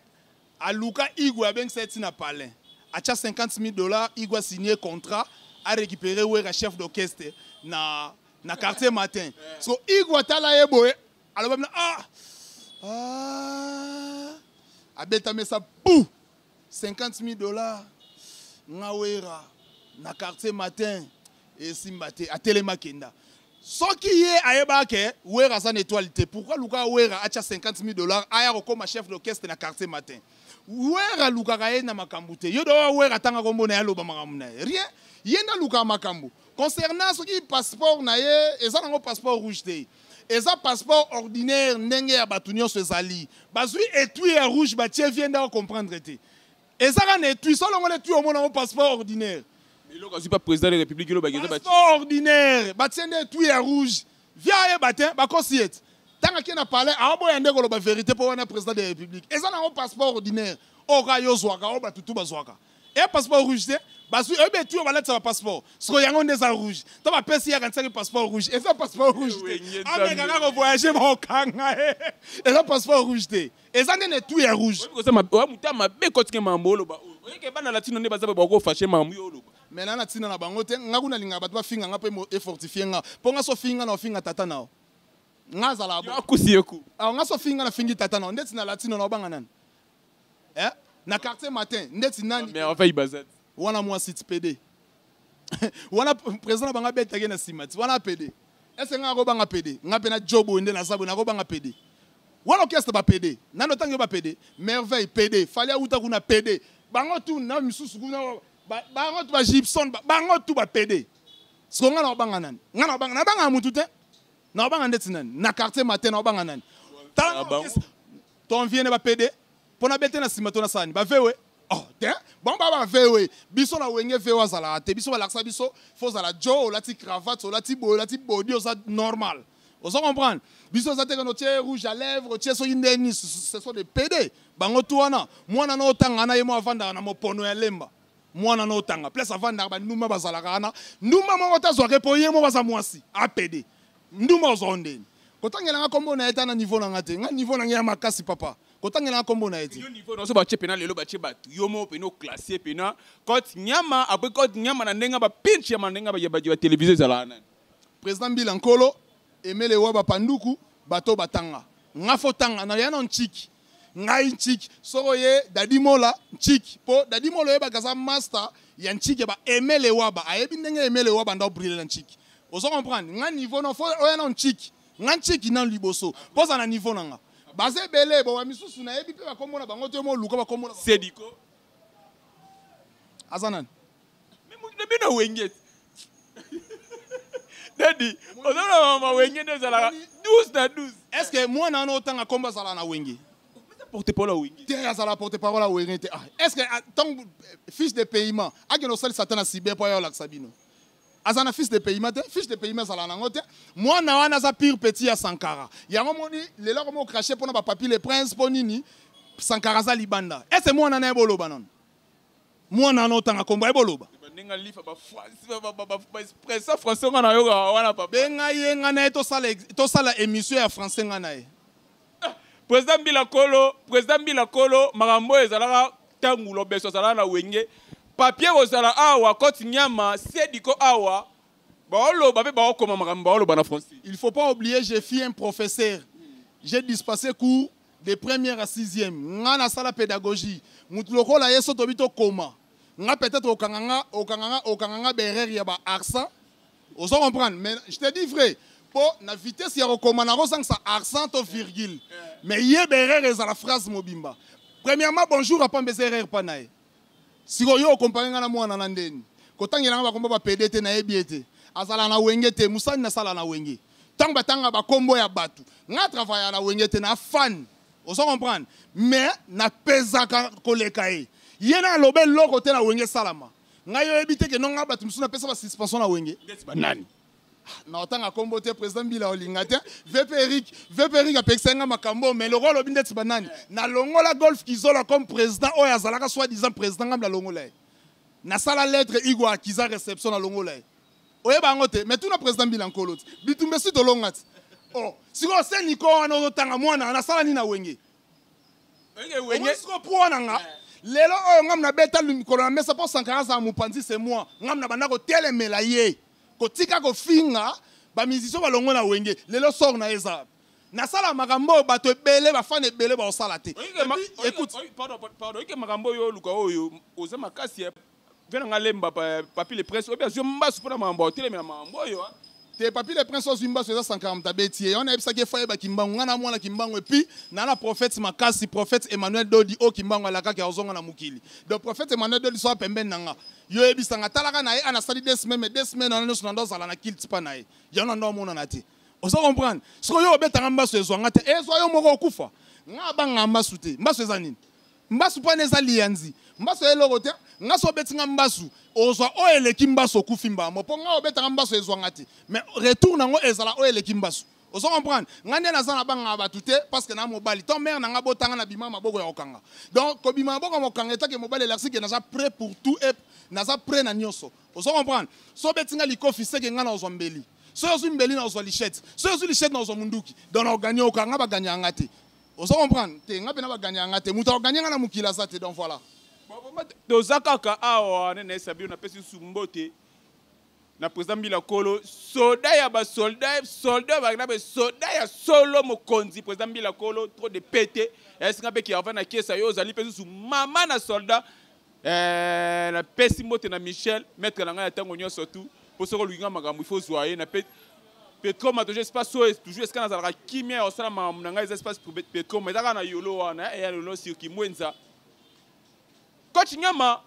aluka igwe abengisa ye ntina palin atya 50 000 dollars igwe asigne contrat arécupere wera chef d'orchestre na na quartier matin so igwe atala ye boye aloba bino ah, ah. abeta mesa pou 50 000 dollars ngawera na quartier matin esimba te atelema kenda soki ye ayebaka ke wera aza na étoile te pourquoi luka wera atya 50 000 dollars aya kokoma chef d'orchestre na quartier matin wera alukaka ye na makambo te yo doa wera atanga kombo na ye aloba makambo na ye rien ye nde alukaka makambo concernant soki passeport na ye eza nango passeport rouge te eza passeport ordinaire ndenge ya bato nyonso ezali bazwi etui ya rouge batie vie nde acomprendre te eza kaka na etui solongola etui omona yango passeport ordinaire eloko azwi pa président de république elobaki eza passeport ordinaire batie nde etui ya rouge vie ayeba te bakosi ye te ntango ake na palais aoboya nde koloba verité mpo wana président de république eza nango passeport ordinaire oyo kaka yo ozwaka oyo bato tu bazwaka e passeport rouge te bazwi oyebi etuyo balatisa ba passeport siko yango nde eza rouge to bapesi yaka ntisaki passeport rouge eza passeport rouge te amekaka kovoyage bakokanga ye eza passeport rouge te eza nde na etuyo ya rouge moto ya mabe kotike mambo oloba oyeke bana latino nde baza bakofashe mambo yo oloba me na na ntina na bango te ngai kuna lingaka bato bafinga ngai mpo efortifie ngai mpo ngai so finga na ofinga tata na yo ngai azala akusi yeku ngai so finga na fingi tata na yo ndeti na latino na obanga nani eh? na quartier matin ndeti nani mais enfin ibazat wana moi site PD wana président banga betake na simati wana PD est-ce nga ko banga PD nga pena job ende na sabo na ko banga PD wana orchestre ba PD nano tangi ba PD merveille PD fallait uta kuna PD bango tout na misusu kuna bango tout ba Gibson bango tout ba PD siko nga na banga nani nga na banga na banga mutu te na banga ndeti nani na quartier matin na banga nani tala Ton vie ne ba pede. Pona bete na sima to na sani. Ba vewe. Oh, te. Bon ba ba vewe. Biso na wenge vewe azala te. Biso ba laksa biso. Faut zala Joe, la ti cravate, la ti boy, la ti body, oza normal. Oza comprendre? Biso za te no tie rouge à lèvres, tie so indeni, ce sont des pede. Bango tu wana. Mwana no tanga na yemo avanda na mopono ya lemba. mwana na otanga place avandaka bandumba bazalaka wana ndumba moko tazwaka mpo ye moko aza mwasi apede Ndumba ozo ndeni. Kotangela nga kombo na ye ta na niveau na nga te. Nga niveau na nga ya makasi papa. Kotangela nga kombo na ye te. Yo niveau na so ba pena lelo ba batu. Yo mo pena o classer pena cote nyama après cote nyama na ndenga ba pinch ya mandenga ba ya ba television ezala nani. President Mbila Nkolo emele wa ba panduku bato batanga. Nga fo tanga na ya na nchiki. ngai ntshiki soko ye dadi mola ntshiki mpo dadi mola oyebaka aza master ya ntshiki ba emele waba ayebi ndenge emele waba nda obrile na ntshiki ozo comprendre nga niveau na fo oya na ntshiki nga ntshiki nanu liboso mpo oza na niveau na nga baza ebele boba misusu nayebi mpe bakombo na bango te moluka bakombo sediko aza nani na bino wenge dadi oza na mama wenge nde ezalaka 12 na 12 est ce que mwana wana otanga nkombo azala na wenge porte parole ya wenge te azala porte parole ya wenge te ah, est ce que ntango ah, eh, fiche de paiement akende osalisa ata na sibe mpo aya olakisa bino aza na fiche de paiement te fiche de paiement ezala nango te mwana wana aza pire petit ya sankara yango moni lelo akomi okrache mpo na bapapier le prince mpo nini sankara aza libanda ese mwana na ye boloba nano mwana wana otanga kombo ayebi oloba benga ye nga na ye tosala émission ya français nga na ye ah, président mbila kolo président mbila kolo makambo oyo ezalaka ntango lobeso azalaka na wenge papier kozala awa cote nyama sediko awa baoloba mpe baokoma makambo baoloba na français il faut pas oublier j'ai fi un professeur j'ai dispassé cours de première à sixième nga nasala pédagogie motu lokola ye so tobi tokoma nga peut-être okanga nga okanga nga okanga nga berere ya ba accent ozo comprendre mais je te dis vrai mpo na vitesse ya kokoma nakozangisa accent to virgule mais ye berere ezala phrase mobimba premièrement bonjour apamba eza erreur mpa na ye Siko yo okompare nga na mwana na ndeni kotangela nga bakombo ba pede te nayebi ye te azala na wenge te mosani nasala na wenge ntango batanga bakombo ya bato nga travaya na wenge te na fani ozo comprendre mais napezaka koleka ye ye na aloba eloko te na wenge esalama ngai oyebi te ke nonga bato mosusu napesa basuspension na wenge nani na otanga kombo te president mbila olinga te vp eric vp eric apekisaki nga makambo mais lokola alobi ndeti banani nalongola golf kizola comme président oyo azalaka soit disant président ngambi nalongola ye nasala lettre igo akiza réception nalongola ye oyeba yango te mais tuna président mbila nkolo ti bitumba esi tolonga ti o oh, sikoyo se niko wana ozotanga mwana nasala nini na wenge sikoyo po wana nga eh. lelo oyo ngambi nabeta mikolo na mesa mpo sankara azala mopanzi se moi ngambi na banda kotelemela ye kotika kofinga ba musiciens balongo na wenge lelo sort na eza nasala makambo oyo bato ebele bafana ebele baosala te oyike makambo oyo oluka oyo oza makasi ya vena nga lemba papi le prince oyebi azwi mbasu mpo na makambo otelemela makambo oyo ah. te papi le prince azwi mbasu eza sankaramta abeti ye wana ayebisaki efa yeba kimbangu ngai na mwana kimbangu epuis na na prophète makasi prophète emmanuel dodi oyo kimbangu alakaki azonga na mokili donc prophète emmanuel dodi soa pembeni na nga yo yebisa nga talaka na ye ana sali deux semaines mais deux semaines wana nyonso nando azala na kilte pa na ye yango nando amonana te oza comprendre sikoyo yo obetanga mbasu ezwa nga te ezwa yo moko okufa nga abanga mbasu te mbasu eza nini mbasu mpo wana eza liyanzi mbasu ya eloko te nga so obeti nga mbasu ozwa oyo eleki mbasu okufi mbamo mpo nga obetanga mbasu ezwa nga te mais retour nango ezala oyo eleki mbasu ozo comprendre ngai nde naza na bangaka bato te parce que na mobali to mare na ngai botanga na bima maboko ya kokanga donc kobima maboko ya mokanga etake mobali elarsi ke naza prêt pour tout et naza prêt na nyonso ozo comprendre so obeti ngai likofi seke ngai na ozwa mbeli soki ozwi mbeli na ozwa lichette soki ozwi lichette na ozwa munduki donc na oganye oka ngai baganye ya ngai te ozo comprendre te ngai mpe na baganye ya ngai te moto akoganye ngai na mokili aza te donc voilà toza kaka awa nene sabino napesi nsusu mbote na président mbila kolo soda ya basolda solda ya bagnabe soda ya solo mokonzi président mbila kolo trop de pete esinga mpe kiarva na kesa yo ozali mpe susu mama na solda eh, napesi mbote na michel maître na ngai ya ntango nyonso tu mpo soki oluki ngai makambo ifo ozwa ye na pe petroma tojo espace oyo toujours esika nazalaka kimia ya kosala makambo na ngai eza espace petroma eza kaka na yolo wana eya eh, lolo sirki mwenza Coach Ngama,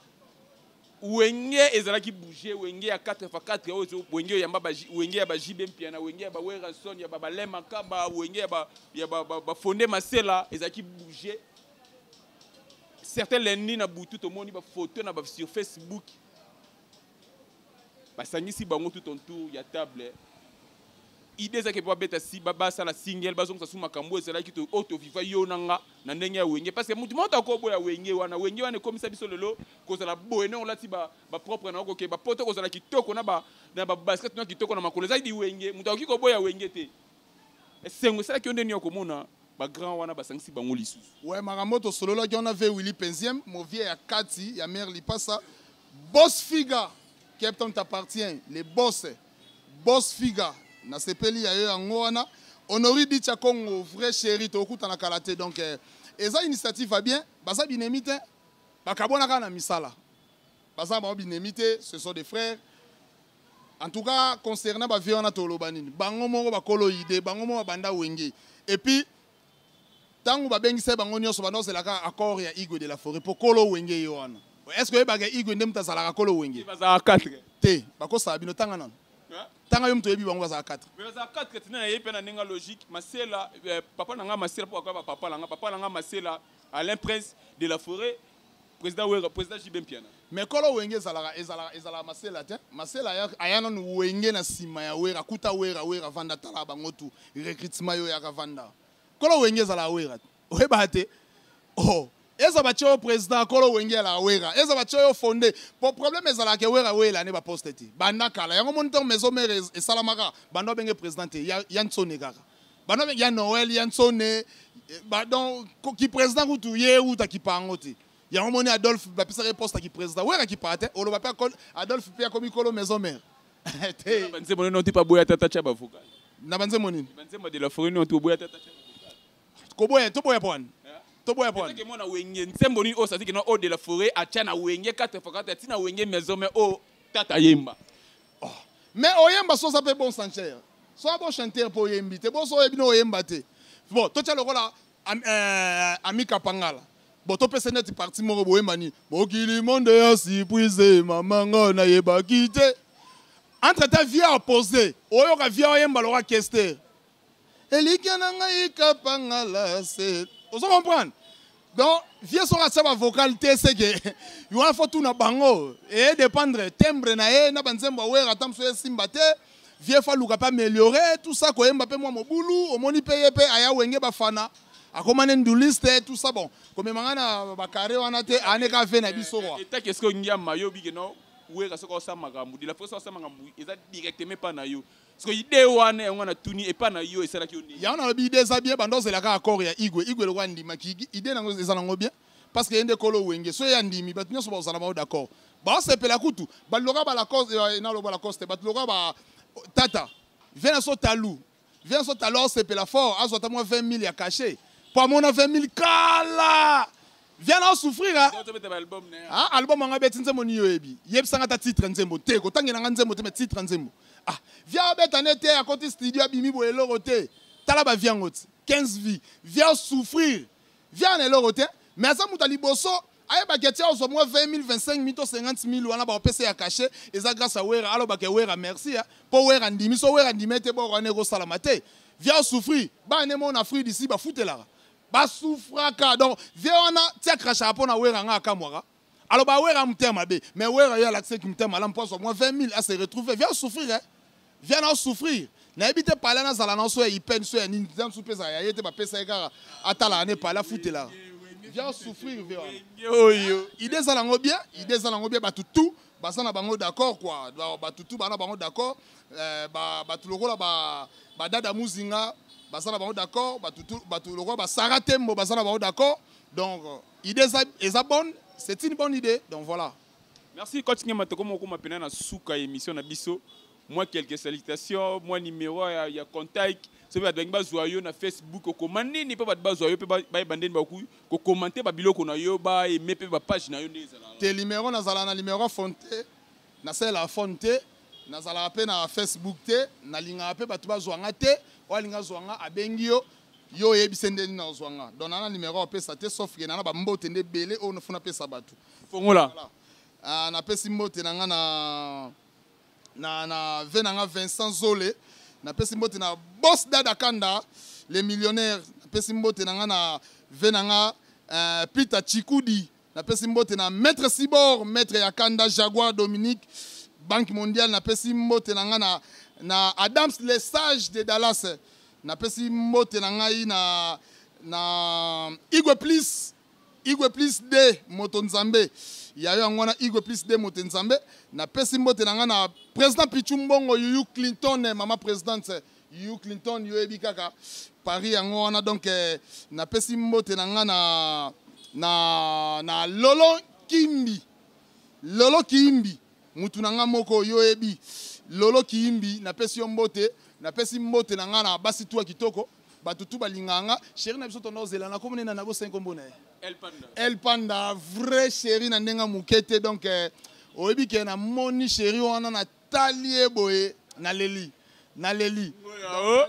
wenge ezalaki bouger wenge ya 4 x 4 oyo ezo- wenge oyo yamba ba J- wenge ya ba JB Mpiana wenge ya ba Werrason ya ba Balain Makaba wenge ya ba ya ba, ba, ba Fonde Masela ezalaki bouger certains lundi na butu tomoni ba photo na ba sur Facebook basangisi bango tout en tour ya table idée ezalaki mpe babeta si basala single bazongisa su makambo ezalaki oyo oh, toviva yo na nga na ndenge ya wenge parce que motu moto akoboya wenge wana wenge wana ekomisa biso lelo kozala boye ndenge olati bapropre na okoke bapoto kozala kitoko na babasket na kitoko na makolo ezalaki wenge moto akoki koboya wenge te esengo esalaki yo nde nini ya komona bagrand wana basangisi bango lisusu we makambo tosololaki wana ve willi penziem movie ya kati ya mare lipasa bos figa captain t'appartient le bos bos figa nasepeli ya yo yango wana honori dicha congo vrai chéri tokutana kala te donc eh, eza initiative ya bien baza binemi te bakabwanaka na misala baza bango binemi te ce sont des frères En tout cas, concernant ba vieux wana toloba nini? Bango moko bakolo idée, bango moko banda wenge. Et puis tango babengisa bango nyonso banda ozelaka accord ya Igwe de la Forêt po kolo wenge ye wana. Est-ce que oyebaka Igwe nde moto azalaka kolo wenge? Bazalaka 4. Te, bakosala bino tanga nano. Tanga yo moto oyebi bango bazalaka 4. Mais bazalaka 4 tina na ye pe na ndenge logique, Masela, eh, papa na nga Masela po akoya ba papa na nga, papa na nga Masela, Alain Prince de la Forêt, Président Wera, président JB Mpiana. Mais kolo wenge ezalaka ezalaka ezalaka masela te. Masela ya ayana nu wenge na sima ya Wera kuta Wera Wera vanda tala bango tu recrutement yo yaka vanda. Kolo wenge ezalaka Wera. Oyeba te. Oh, eza batye yo président kolo wenge ya lawera eza batye yo fonde po problème ezalaka ke wera wela ne baposte te banda kala yango moni ntango maison mare esalamaka banda obenge président te ya, ya nsone kaka bana be ya noel ya nsone eh, badon kipresident kutu ye euta kipa yango te yango moni adolphe bapesaka ye poste ya kipresident wera kipaa te oloba mpe adolphe mpe akomi kolo maison mare te banzembo nini otipa boya tata tya bavoka na banzembo nini banzembo de la foret nini otipa boya tata tya koboya toboya pwani toboya pwani ke mona wenge nzembo nini oyo sasi kino o de la foret atya na wenge 4 fois 4 atina wenge maison mare oyo tata yemba Oh. Mais oyemba sosa pe bon sancher. Soa bon chanteur po oyembi te. Bo soa bino oyemba te. Bon, to tia lokola am, euh, Amika Pangala. Bon, to pese net parti moko boyemba ni. Mokili monde ya si puise mama ngo na yeba kite. Entre ta vie à poser. Oyoka vie oyemba lokola kester. elikya na ngai kapangala se ozo comprendre donc vieux soki atia bavocal te seke wana fo tuna bango eye dépendre tembre na ye na banzembo awera ata mosusu esimba te vieux fo aluka mpe ameliore tout ça koyemba mpe mwa mobulu omoni mpe ye mpe aya wenge bafana akoma ne nduliste tout ça bon komema ngai na bakare wana te ane ka ve na biso kwa etaki esiko ngiama yo bikeno wera soki osala makambo de la fois soki osala makambo eza directement epa na yo siko ide wana yango na tuni epa na yo esalaki yo nini yango nalobi ide eza bien banda ozela kaka accord ya igwe igwe lokola andimaki ide nango eza nango bien parce que ye nde kolo wenge so ye andimi bato nyonso bakozala bango d'accord baosepela kutu bato lokola balacoste eh, naloba balacoste bato lokola ba tata viens so talu viens so talu aosepela fort azwa ata mwa 20 000 ya cachet mpo amona 20 000 kala viens na souffrir ah. ah album anga beti nzembo ni yoyebi yebisa nga ta titre nzembo te ko tangela nga nzembo te mais titre nzembo ah viens beta ne te akoti studio abimi bo eloko te tala ba viens ngoti 15 vie viens souffrir viens na eloko te mais aza muta liboso ayebaki ete ozwa mwa 20 25 mito 50 mil wana baopesa ya kashe eza grâce ya wera alobaka ya wera merci ya mpo wera andimi so wera andimi ete boko wana ekosalama te via souffrir bana emona fruit disi bafutelaka ba souffraka donc vie wana tia crachaka mpo na wera nga akamwaka alors ba wera motema mabe mais wera yo alakisa ki motema malamu mpo azwa mwa 20 000 ase retrouve via souffrir eh? via na souffrir nayebi te pale nazala na so ya ipene so ya nini nza nsu mpeza ya ye te bapesa ye kaka atalaka ne pale afutelaka via souffrir via wana oyo ide eza nango bien ide eza nango bien bato tout baza na bango d'accord quoi bato tu bana bango d'accord eh, bato lokola badada muzinga baza na bango d'accord bato lokola basara tembo baza na bango d'accord donc idée eza bonne c'est une bonne idée donc voilà merci coach ngema tokoma okoma mpena na suka ya émission na biso mwa quelque salutation mwa numero ya, ya contact soki bato balingi bazwa yo na facebook okoma nini mpo bato bazwa yo mpe bayeba ndeni bakoki kokomante babiloko na yo baeme mpe bapage na yo nde ezala te numero nazala na numero phone te nasalela phone te nazalaka mpe na facebook te nalingaka mpe bato bazwa nga te oyo alingi azwa nga abengi yo yo oyebise nde nini nazwa nga don nana numero apesa te sauf ke nana bambote nde ebele oyo nafuna apesa bato fongola ah, napesi mbote na nga na na na ve na nga Vincent Zole na pesi mbote na boss Dada Kanda les millionnaires na pesi mbote na nga na ve na nga euh, Peter Chikudi na pesi mbote na Maître Sibor Maître ya Kanda Jaguar Dominique Banque mondiale na pesi mbote na nga na na Adams les sages de Dallas na pesi mbote na ngai na na Igwe Please Igwe plus de moto nzambe yayo yango wana Igwe plus de moto nzambe na pesi mbote na nga na president Pichu Mbongo Yuyu Clinton eh, mama presidente eh, Yuyu Clinton yo ebi kaka Paris yango wana donc eh, na pesi mbote na nga na na na Lolo Kimbi Lolo Kimbi mutu na nga moko yo oyebi lolo kiyimbi napesi yo mbote napesi mbote na nga na basi tuwa kitoko bato tu balingaka nga sheri na biso tonda ozela na kombo nena na bosengi kombo na ye el panda vrai sheri na ndenge moke te donc eh, oyebi ke namoni sheri wana natali ye boye naleli naleli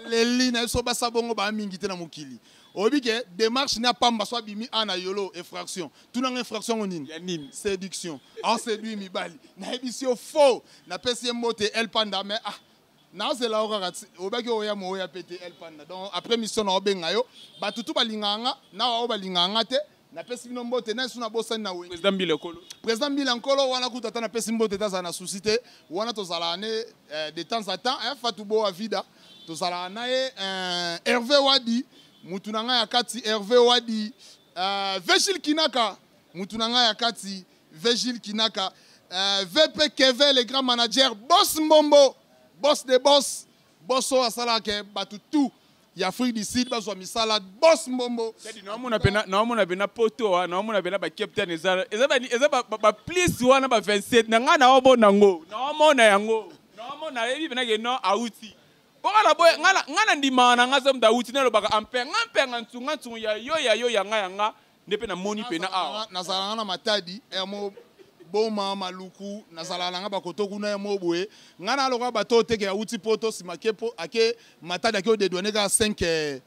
leli na biso basa bongo baa mingi te na mokili oyebi ke démarche ne apamba so abimi a na yolo effraction tunanga effraction yango nini séduction aseduit mibali nayebisi yo faux napesi ye mbote el panda mais ah nazela yo kaka obaki oya mooya mpe te el panda donc après mission na obenga yo bato tu balingaka nga na baoyo balingaka nga te napesi bino mbote nani suna bosani na wengi président mbila nkolo président mbila nkolo wana kutu ata napesi mbote te azala na souci te wana tozalaka ne eh, de temps à temps eh, fatu boa vida tozalaka na ye eh, herve wadi mutu na ngai ya kati herve wadi eh, vegile kinaka mutu na ngai ya kati vegile kinaka eh, vp keve le grand manager boss mbombo boss de boss boss oyo asalaka ke bato tout ya afrique du sud bazwa misala bos mbombo naomona mpe na poto wa naomona mpe na bacaptain eza baplis wana ba 27 na ngai naomona yango naomona yango naomona yebi mpe nake no auti bokala boye ngai na ndimaka na ngai soki moto auti nalobaka ampe ngai mpe nga nsunga nsungu ya yo ya yo ya ngai ya ngai nde mpe namoni mpena awa nazala nga na matadi yamo boma maluku nazala na nga bakoto kuna ya mo boye nga na lokola bato oyo teke auti poto nsima ake, ake matadi ake odedwane kaka 5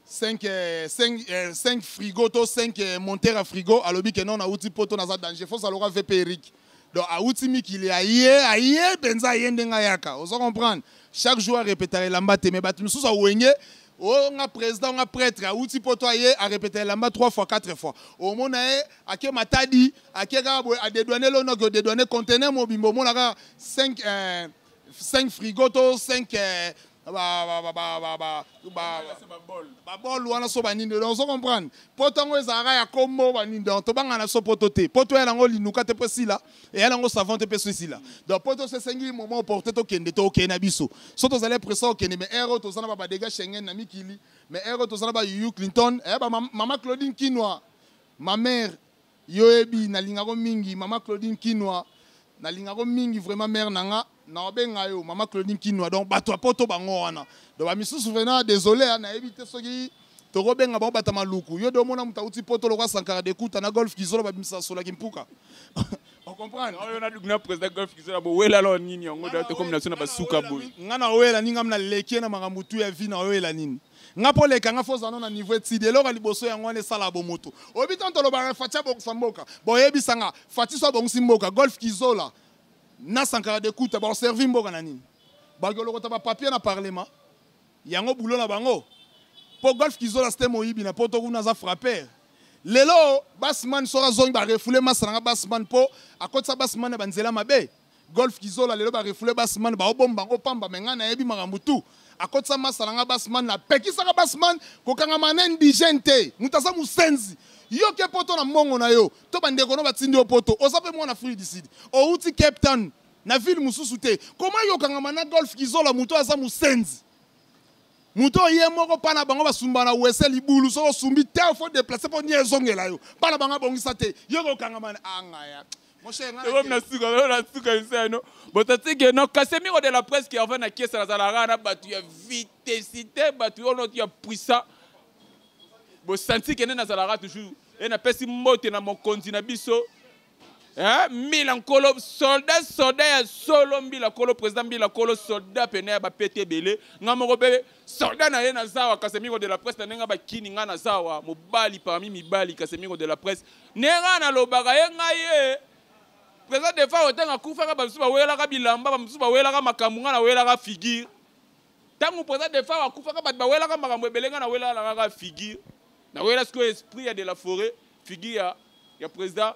5, 5, 5 frigo to 5 montere ya frigo alobi ke non nauti poto naza danger fosa lokola vp eric donc awuti mikili aye aye mpenza aye ndenge ayaka ozo comprendre chaque jour arepetaka elamba te mais bato mosusu awenge o oh, nga président nga prêtre awuti poto aye arepeta elamba 3 fois 4 fois omona ye ake matadi ake kaka boye adedwane lonoki odedwane contenaire mobimba omona kaka 5 eh, 5 frigo to 5 eh, babol wana so banini donc ozo comprendre mpo ntango ezalaka ya kombo banini donc tobanga na so poto te mpo toya nango linuka te mpo esila eya nango savant te mpe so esila donc mpo toso esengi moment oporte tokende tokende na biso so tozali presa okende mais aire oyo toza na babadega schengen na mikili mais aire oyo toza na bayuyu clinton eh, mama claudine kinwa ma mère Yoyebi nalingako mingi maman Claudine Kinua nalingako mingi vraiment mère nanga na obenga yo maman Claudine Kinua donc bato ya poto bango wana donc ba misusu vraiment désolé hein, nayebi te soki tokobenga bango bata maluku yo de omona moto auti poto lokwa sankara de kuta na golf kizolo babimisa sola kimpuka ocomprendre oyo na président golf kizolo bowela lo nini yango tokomi na biso na basuka boye ngai na oyela nini ngai na leki na makambo tu ya vi na oyela nini nga po leka nga foza no na niveau etidi eloko ya liboso yango wana esala bomoto oyebi ntango tolobaka fati abongisa mboka boyebisa nga fati so abongisi mboka golf kizola na sankara de kuta baoservi mboka na nini bakolokota bapapier na parlement yango bulo na bango mpo golf kizola sete moyibi na poto kuna aza frapper lelo basman soki azongi barefule masa na nga basman mpo akotisa basman na banzela mabe Golf Kizola lelo ba refoule Basman ba obomba ngo pamba mais nga na yebi makambo tout akotisa masa na nga Basman na pekisaka Basman kokangama na indigène te moto aza mosenzi yo ke poto na mbongo na yo to bandeko no batindi yo poto oza mpe mwana afrique du sud outi cape town na ville mosusu te koma yo okangama na golf kizola moto aza mosenzi moto oye moko mpa na bango basumba na wese libulu soki osumbi te fo deplace mpo nie ezongela yo mpa na bango abongisa te yo kokangama na angaya ah, ekomi na suka lelo na suka esa no botatike no kasemiro de la presse kerva na kiesa nazalaka na bato ya vitesite bato yo noti ya puissant bosanti kende nazalaka toujours e napesi mbote na mokonzi na biso eh, mbila nkolo soldat soldat ya solo mbila nkolo président mbila nkolo soldat pene ya bapete ebele ngai moko mpe Soldat na ye na zawa Casemiro de la presse na ndenge bakini nga na zawa mobali parmi mibali Casemiro de la presse ndenge nga na lobaka ye nga ye President Defa otanga kufaka ba misusu bawelaka bilamba ba misusu bawelaka makambo nga na welaka figure tango President Defa akufaka bato bawelaka makambo ebele nga na welaka kaka figure na wela sikoyo esprit ya de la forêt figure ya ya President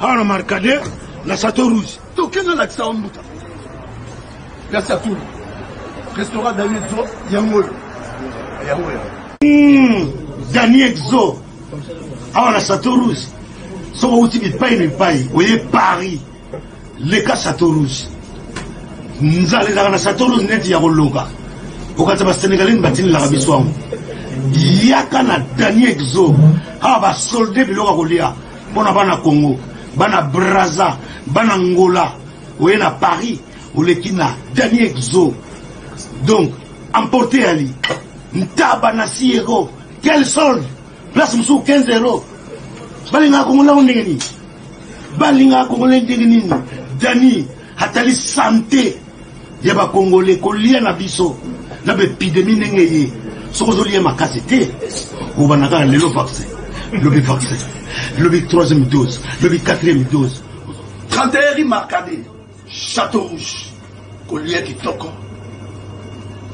awa na markade na chateau rouge toke nalakisa yo mbuta place ya tulu restaurant daniel zo yango oyo yango oyo hmm, daniel zo awa na chateau rouge soki outi bipai na bipai oye paris leka chateau rouge nzala ezalaka na chateau rouge neti ya koloka okanisa basenegalais batinelaka biso yango yaka na daniel exo awa basolde biloko ya kolia Pona bana Congo, bana Brazza, bana Ngola, oye na Paris, oleki na Dani Exo. Donc, emporte Ali. Ntaba na Siego, quel solde? Place musuku 15 euros. Balinga Kongola ndenge nini? Balinga Kongola ndenge nini? Dani Atali sante ya ba congolais kolia na biso na ba epidemie ndenge eye soki ozolia makasi te obanda kaka lelo vaccin lobi vaccin lobi troisième dose lobi quatrième dose 31 rue marcade château rouge kolia kitoko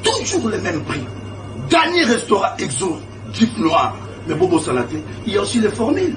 toujours le même prix dernier restaurant exo jeep noir mais bobosana te il y a aussi les formules